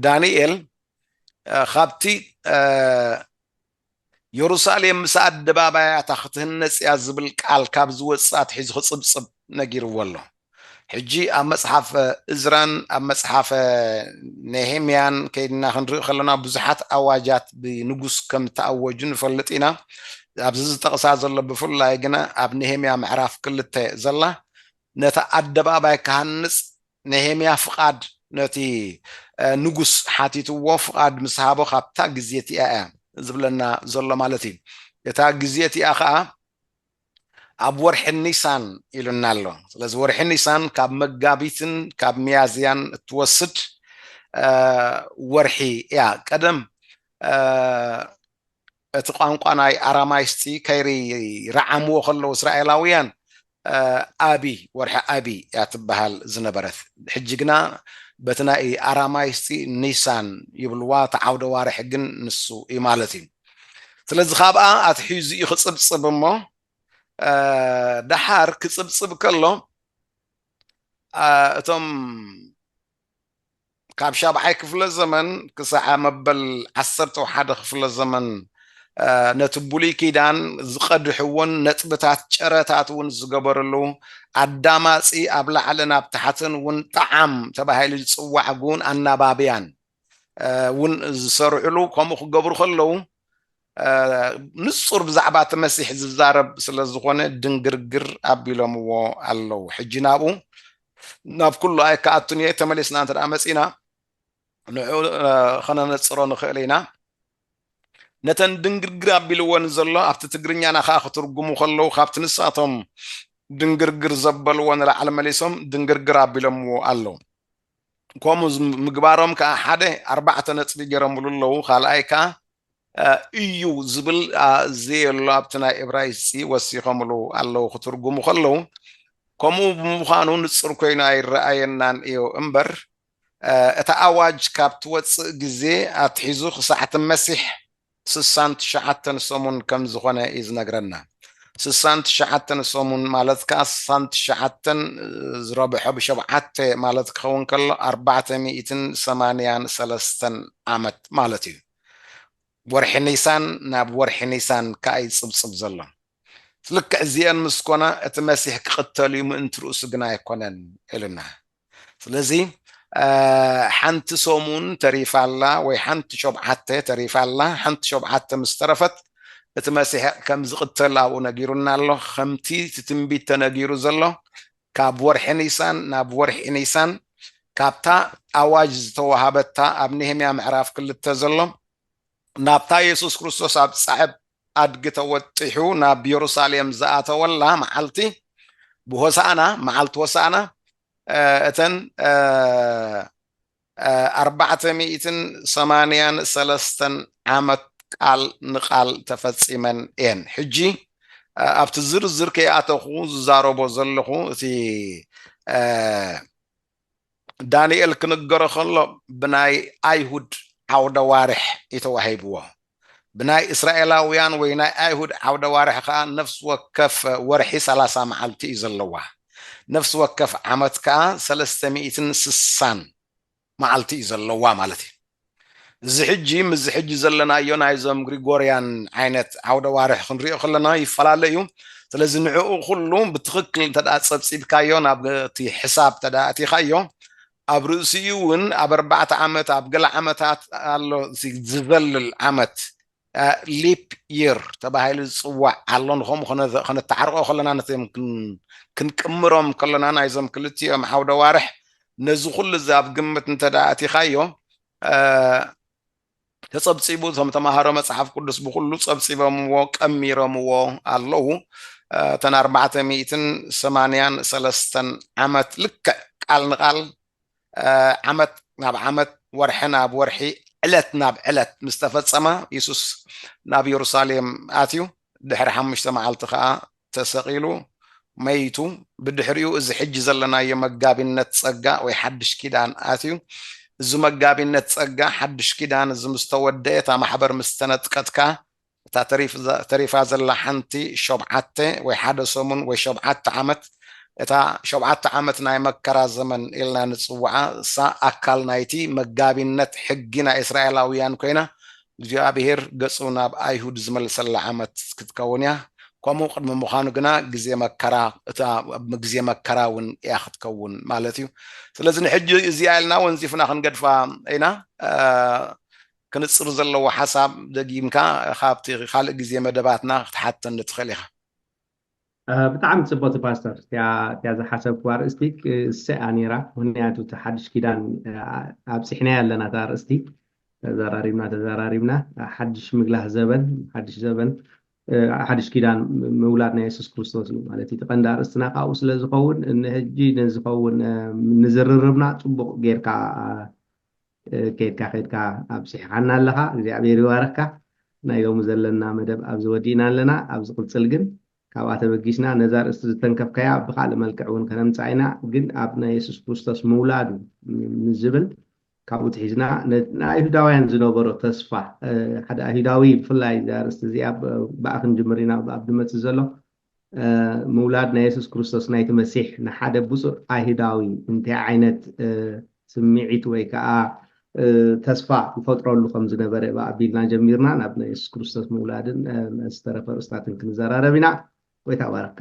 ዳንኤል ካብቲ የሩሳሌም ምስ ኣደባባያታ ክትህነጽ እያ ዝብል ቃል ካብ ዝወጽእ ኣትሒዙ ክጽብጽብ ነጊርዎ ኣሎ። ሕጂ ኣብ መጽሓፈ እዝራን ኣብ መጽሓፈ ነሄምያን ከይድና ክንርኢ ከሎና ብዙሓት ኣዋጃት ብንጉስ ከም እተኣወጁ ንፈልጥ ኢና። ኣብዚ ዝጠቕሳ ዘሎ ብፍላይ ግና ኣብ ነሄምያ ምዕራፍ ክልተ ዘላ ነቲ ኣደባባይ ክሃንጽ ነሄምያ ፍቓድ ነቲ ንጉስ ሓቲትዎ ፍቓድ ምስ ሃቦ ካብታ ግዜ እቲኣ እያ ዝብለና ዘሎ ማለት እዩ። እታ ግዜ እቲኣ ኸኣ ኣብ ወርሒ ኒሳን ኢሉና ኣሎ። ስለዚ ወርሒ ኒሳን ካብ መጋቢትን ካብ ሚያዝያን እትወስድ ወርሒ እያ። ቀደም እቲ ቋንቋ ናይ ኣራማይስጢ ከይርዓምዎ ከለዉ እስራኤላውያን ኣቢ፣ ወርሒ ኣቢ፣ እያ ትበሃል ዝነበረት። ሕጂ ግና በቲ ናይ ኣራማይስጢ ኒሳን ይብልዋ፣ እቲ ዓውደ ዋርሒ ግን ንሱ እዩ ማለት እዩ። ስለዚ ካብኣ ኣትሒዙ እዩ ክጽብጽብ እሞ ደሓር ክጽብጽብ ከሎ እቶም ካብ ሻብዓይ ክፍለ ዘመን ክሳዕ መበል ዓሰርተው ሓደ ክፍለ ዘመን ነቲ ብሉይ ኪዳን ዝቐድሕውን ነጥብታት ጨረታት እውን ዝገበርሉ ኣዳማጺ ኣብ ላዕልን ኣብ ታሕትን እውን ጣዓም ተባሂሉ ዝጽዋዕ ግውን ኣናባብያን እውን ዝሰርሕሉ ከምኡ ክገብሩ ከለዉ ንጹር ብዛዕባ እቲ መሲሕ ዝዛረብ ስለ ዝኾነ ድንግርግር ኣቢሎምዎ ኣለዉ ሕጂ ናብኡ ናብ ኩሉ ኣይከኣቱን እየ ተመሊስና እንተ ደኣ መጺእና ንዕኡ ኸነነጽሮ ንኽእል ኢና ነተን ድንግርግር ኣቢልወን ዘሎ ኣብቲ ትግርኛና ከዓ ክትርጉሙ ከለዉ ካብቲ ንሳቶም ድንግርግር ዘበልዎ ንላዕሊ መሊሶም ድንግርግር ኣቢሎምዎ ኣለዉ ከምኡ ምግባሮም ከኣ ሓደ ኣርባዕተ ነጥቢ ጌሮምሉ ኣለዉ፣ ካልኣይ ከኣ እዩ ዝብል ዘየሎ ኣብቲ ናይ እብራይስጢ ወሲኾምሉ ኣለዉ ክትርጉሙ ከለዉ፣ ከምኡ ብምዃኑ ንጹር ኮይኑ ኣይረኣየናን እዩ እምበር እታ ኣዋጅ ካብ ትወጽእ ግዜ ኣትሒዙ ክሳዕ እቲ መሲሕ ስሳን ትሽዓተን ሰሙን ከም ዝኾነ እዩ ዝነግረና። ስሳን ትሽዓተን ሰሙን ማለት ከኣ ስሳን ትሽዓተን ዝረብሖ ብሸብዓተ ማለት ክኸውን ከሎ ኣርባዕተ ሚእትን ሰማንያን ሰለስተን ዓመት ማለት እዩ። ወርሒ ኒሳን ናብ ወርሒ ኒሳን ከኣ እዩ ዝጽብጽብ ዘሎ። ልክዕ እዚኤን ምስ ኮና እቲ መሲሕ ክቕተል እዩ ምእንቲ ርእሱ ግና ኣይኮነን ኢሉና። ስለዚ ሓንቲ ሰሙን ተሪፋ ኣላ ወይ ሓንቲ ሾብዓተ ተሪፋ ኣላ ሓንቲ ሾብዓተ ምስ ተረፈት እቲ መሲሕ ከም ዝቕተል ኣብኡ ነጊሩና ኣሎ ከምቲ እቲ ትንቢት ተነጊሩ ዘሎ ካብ ወርሒ ኒሳን ናብ ወርሒ ኒሳን ካብታ ኣዋጅ ዝተዋሃበታ ኣብ ነህምያ ምዕራፍ ክልተ ዘሎ ናብታ የሱስ ክርስቶስ ኣብ ጻዕብ ኣድጊ ተወጢሑ ናብ የሩሳሌም ዝኣተወላ መዓልቲ፣ ብሆሳእና፣ መዓልቲ ሆሳእና፣ እተን ኣርባዕተ ሚእትን ሰማንያን ሰለስተን ዓመት ቃል ንቃል ተፈጺመን እየን። ሕጂ ኣብቲ ዝርዝር ከይኣተኹ ዝዛረቦ ዘለኹ እቲ ዳንኤል ክንገሮ ከሎ ብናይ ኣይሁድ ዓውደዋርሕ እዩ ተዋሂብዎ። ብናይ እስራኤላውያን ወይ ናይ ኣይሁድ ዓውደዋርሕ ከኣ ነፍሲ ወከፍ ወርሒ ሰላሳ መዓልቲ እዩ ዘለዋ። ነፍሲ ወከፍ ዓመት ከኣ ሰለስተ ሚእትን ስሳን መዓልቲ እዩ ዘለዋ ማለት እዩ። እዚ ሕጂ ምስዚ ሕጂ ዘለናዮ ናይዞም ግሪጎርያን ዓይነት ዓውደ ኣዋርሕ ክንሪኦ ከለና ይፈላለ እዩ ስለዚ ንዕኡ ኩሉ ብትኽክል እንተ ጸብጺብካዮ ናብ እቲ ሕሳብ እንተ ኣእቲኻዮ ኣብ ርእሲኡ እውን ኣብ ኣርባዕተ ዓመት ኣብ ገለ ዓመታት ኣሎ ዝዘልል ዓመት ሊፕ ይር ተባሂሉ ዝፅዋዕ ኣሎ ንከምኡ ከነተዓርቆ ከለና ነቶም ክንቅምሮም ከለና ናይዞም ክልቲኦም ዓውደ ዋርሕ ነዚ ኩሉ እዚ ኣብ ግምት እንተ ኣቲኻዮ ተጸብጺቡ እቶም ተምሃሮ መጽሓፍ ቅዱስ ብኩሉ ጸብጺቦምዎ ቀሚሮምዎ ኣለዉ እተን ኣርባዕተ ሚእትን ሰማንያን ሰለስተን ዓመት ልክዕ ቃል ንቃል ዓመት ናብ ዓመት፣ ወርሒ ናብ ወርሒ፣ ዕለት ናብ ዕለት ምስ ተፈጸማ፣ የሱስ ናብ የሩሳሌም ኣትዩ፣ ድሕሪ ሓሙሽተ መዓልቲ ከኣ ተሰቒሉ፣ መይቱ፣ ብድሕሪኡ እዚ ሕጂ ዘለናዮ መጋቢነት ጸጋ ወይ ሓድሽ ኪዳን ኣትዩ። እዚ መጋቢነት ጸጋ ሓድሽ ኪዳን እዚ ምስ ተወደኤ፣ እታ ማሕበር ምስ ተነጥቀት ከኣ እታ ተሪፋ ዘላ ሓንቲ ሾብዓተ ወይ ሓደ ሰሙን ወይ ሾብዓተ ዓመት፣ እታ ሾብዓተ ዓመት ናይ መከራ ዘመን ኢልና ንጽውዓ፣ እሳ ኣካል ናይቲ መጋቢነት ሕጊ ናይ እስራኤላውያን ኰይና፣ እግዚኣብሄር ገጹ ናብ ኣይሁድ ዝመልሰላ ዓመት ክትከውን እያ። ከምኡ ቅድሚ ምዃኑ ግና ግዜ መከራ፣ እታ ግዜ መከራ እውን እያ ክትከውን ማለት እዩ። ስለዚ ንሕጂ እዚኣ ኢልና ወንዚፍና ክንገድፋ ኢና። ክንጽር ዘለዎ ሓሳብ ደጊምካ ካብቲ ካልእ ግዜ መደባትና ክትሓተኒ ትኽእል ኢኻ። ብጣዕሚ ጽብቕቲ ፓስተር እቲኣ ዝሓሰብክዋ ኣርእስቲ ክእሰ እያ ኔራ ምኽንያቱ እቲ ሓድሽ ኪዳን ኣብጺሕናያ ኣለና እታ ኣርእስቲ ተዛራሪብና ተዛራሪብና ሓድሽ ምግላህ ዘበን ሓድሽ ዘበን ሓድሽ ኪዳን ምውላድ ናይ የሱስ ክርስቶስ እዩ ማለት እዩ እቲ ቀንዲ ኣርእስትና ካብኡ ስለ ዝኸውን ንሕጂ ንዝኸውን ንዝርርብና ጽቡቕ ጌርካ ኬድካ ኬድካ ኣብጺሕኻና ኣለኻ እግዚኣብሔር ይባርኽካ ናይ ሎሚ ዘለና መደብ ኣብዚ ወዲእና ኣለና ኣብ ዝቕጽል ግን ካብኣ ተበጊስና ነዛ ርእስቲ ዝተንከፍካያ ብኻልእ መልክዕ እውን ከነምጽኣ ኢና ግን ኣብ ናይ የሱስ ክርስቶስ ምውላዱ ንዝብል ካብኡ ትሒዝና ንኣይሁዳውያን ዝነበሮ ተስፋ ሓደ ኣይሁዳዊ ብፍላይ እዛ ርእስቲ እዚኣ ብኣ ክንጅምር ኢና ኣብ ድመጽእ ዘሎ ምውላድ ናይ የሱስ ክርስቶስ ናይቲ መሲሕ ንሓደ ብጹእ ኣይሁዳዊ እንታይ ዓይነት ስምዒት ወይ ከዓ ተስፋ ይፈጥረሉ ከም ዝነበረ ኣቢልና ጀሚርና ናብ ናይ የሱስ ክርስቶስ ምውላድን ዝተረፈ ርእስታትን ክንዘራረብ ኢና። ጎይታ ባረካ።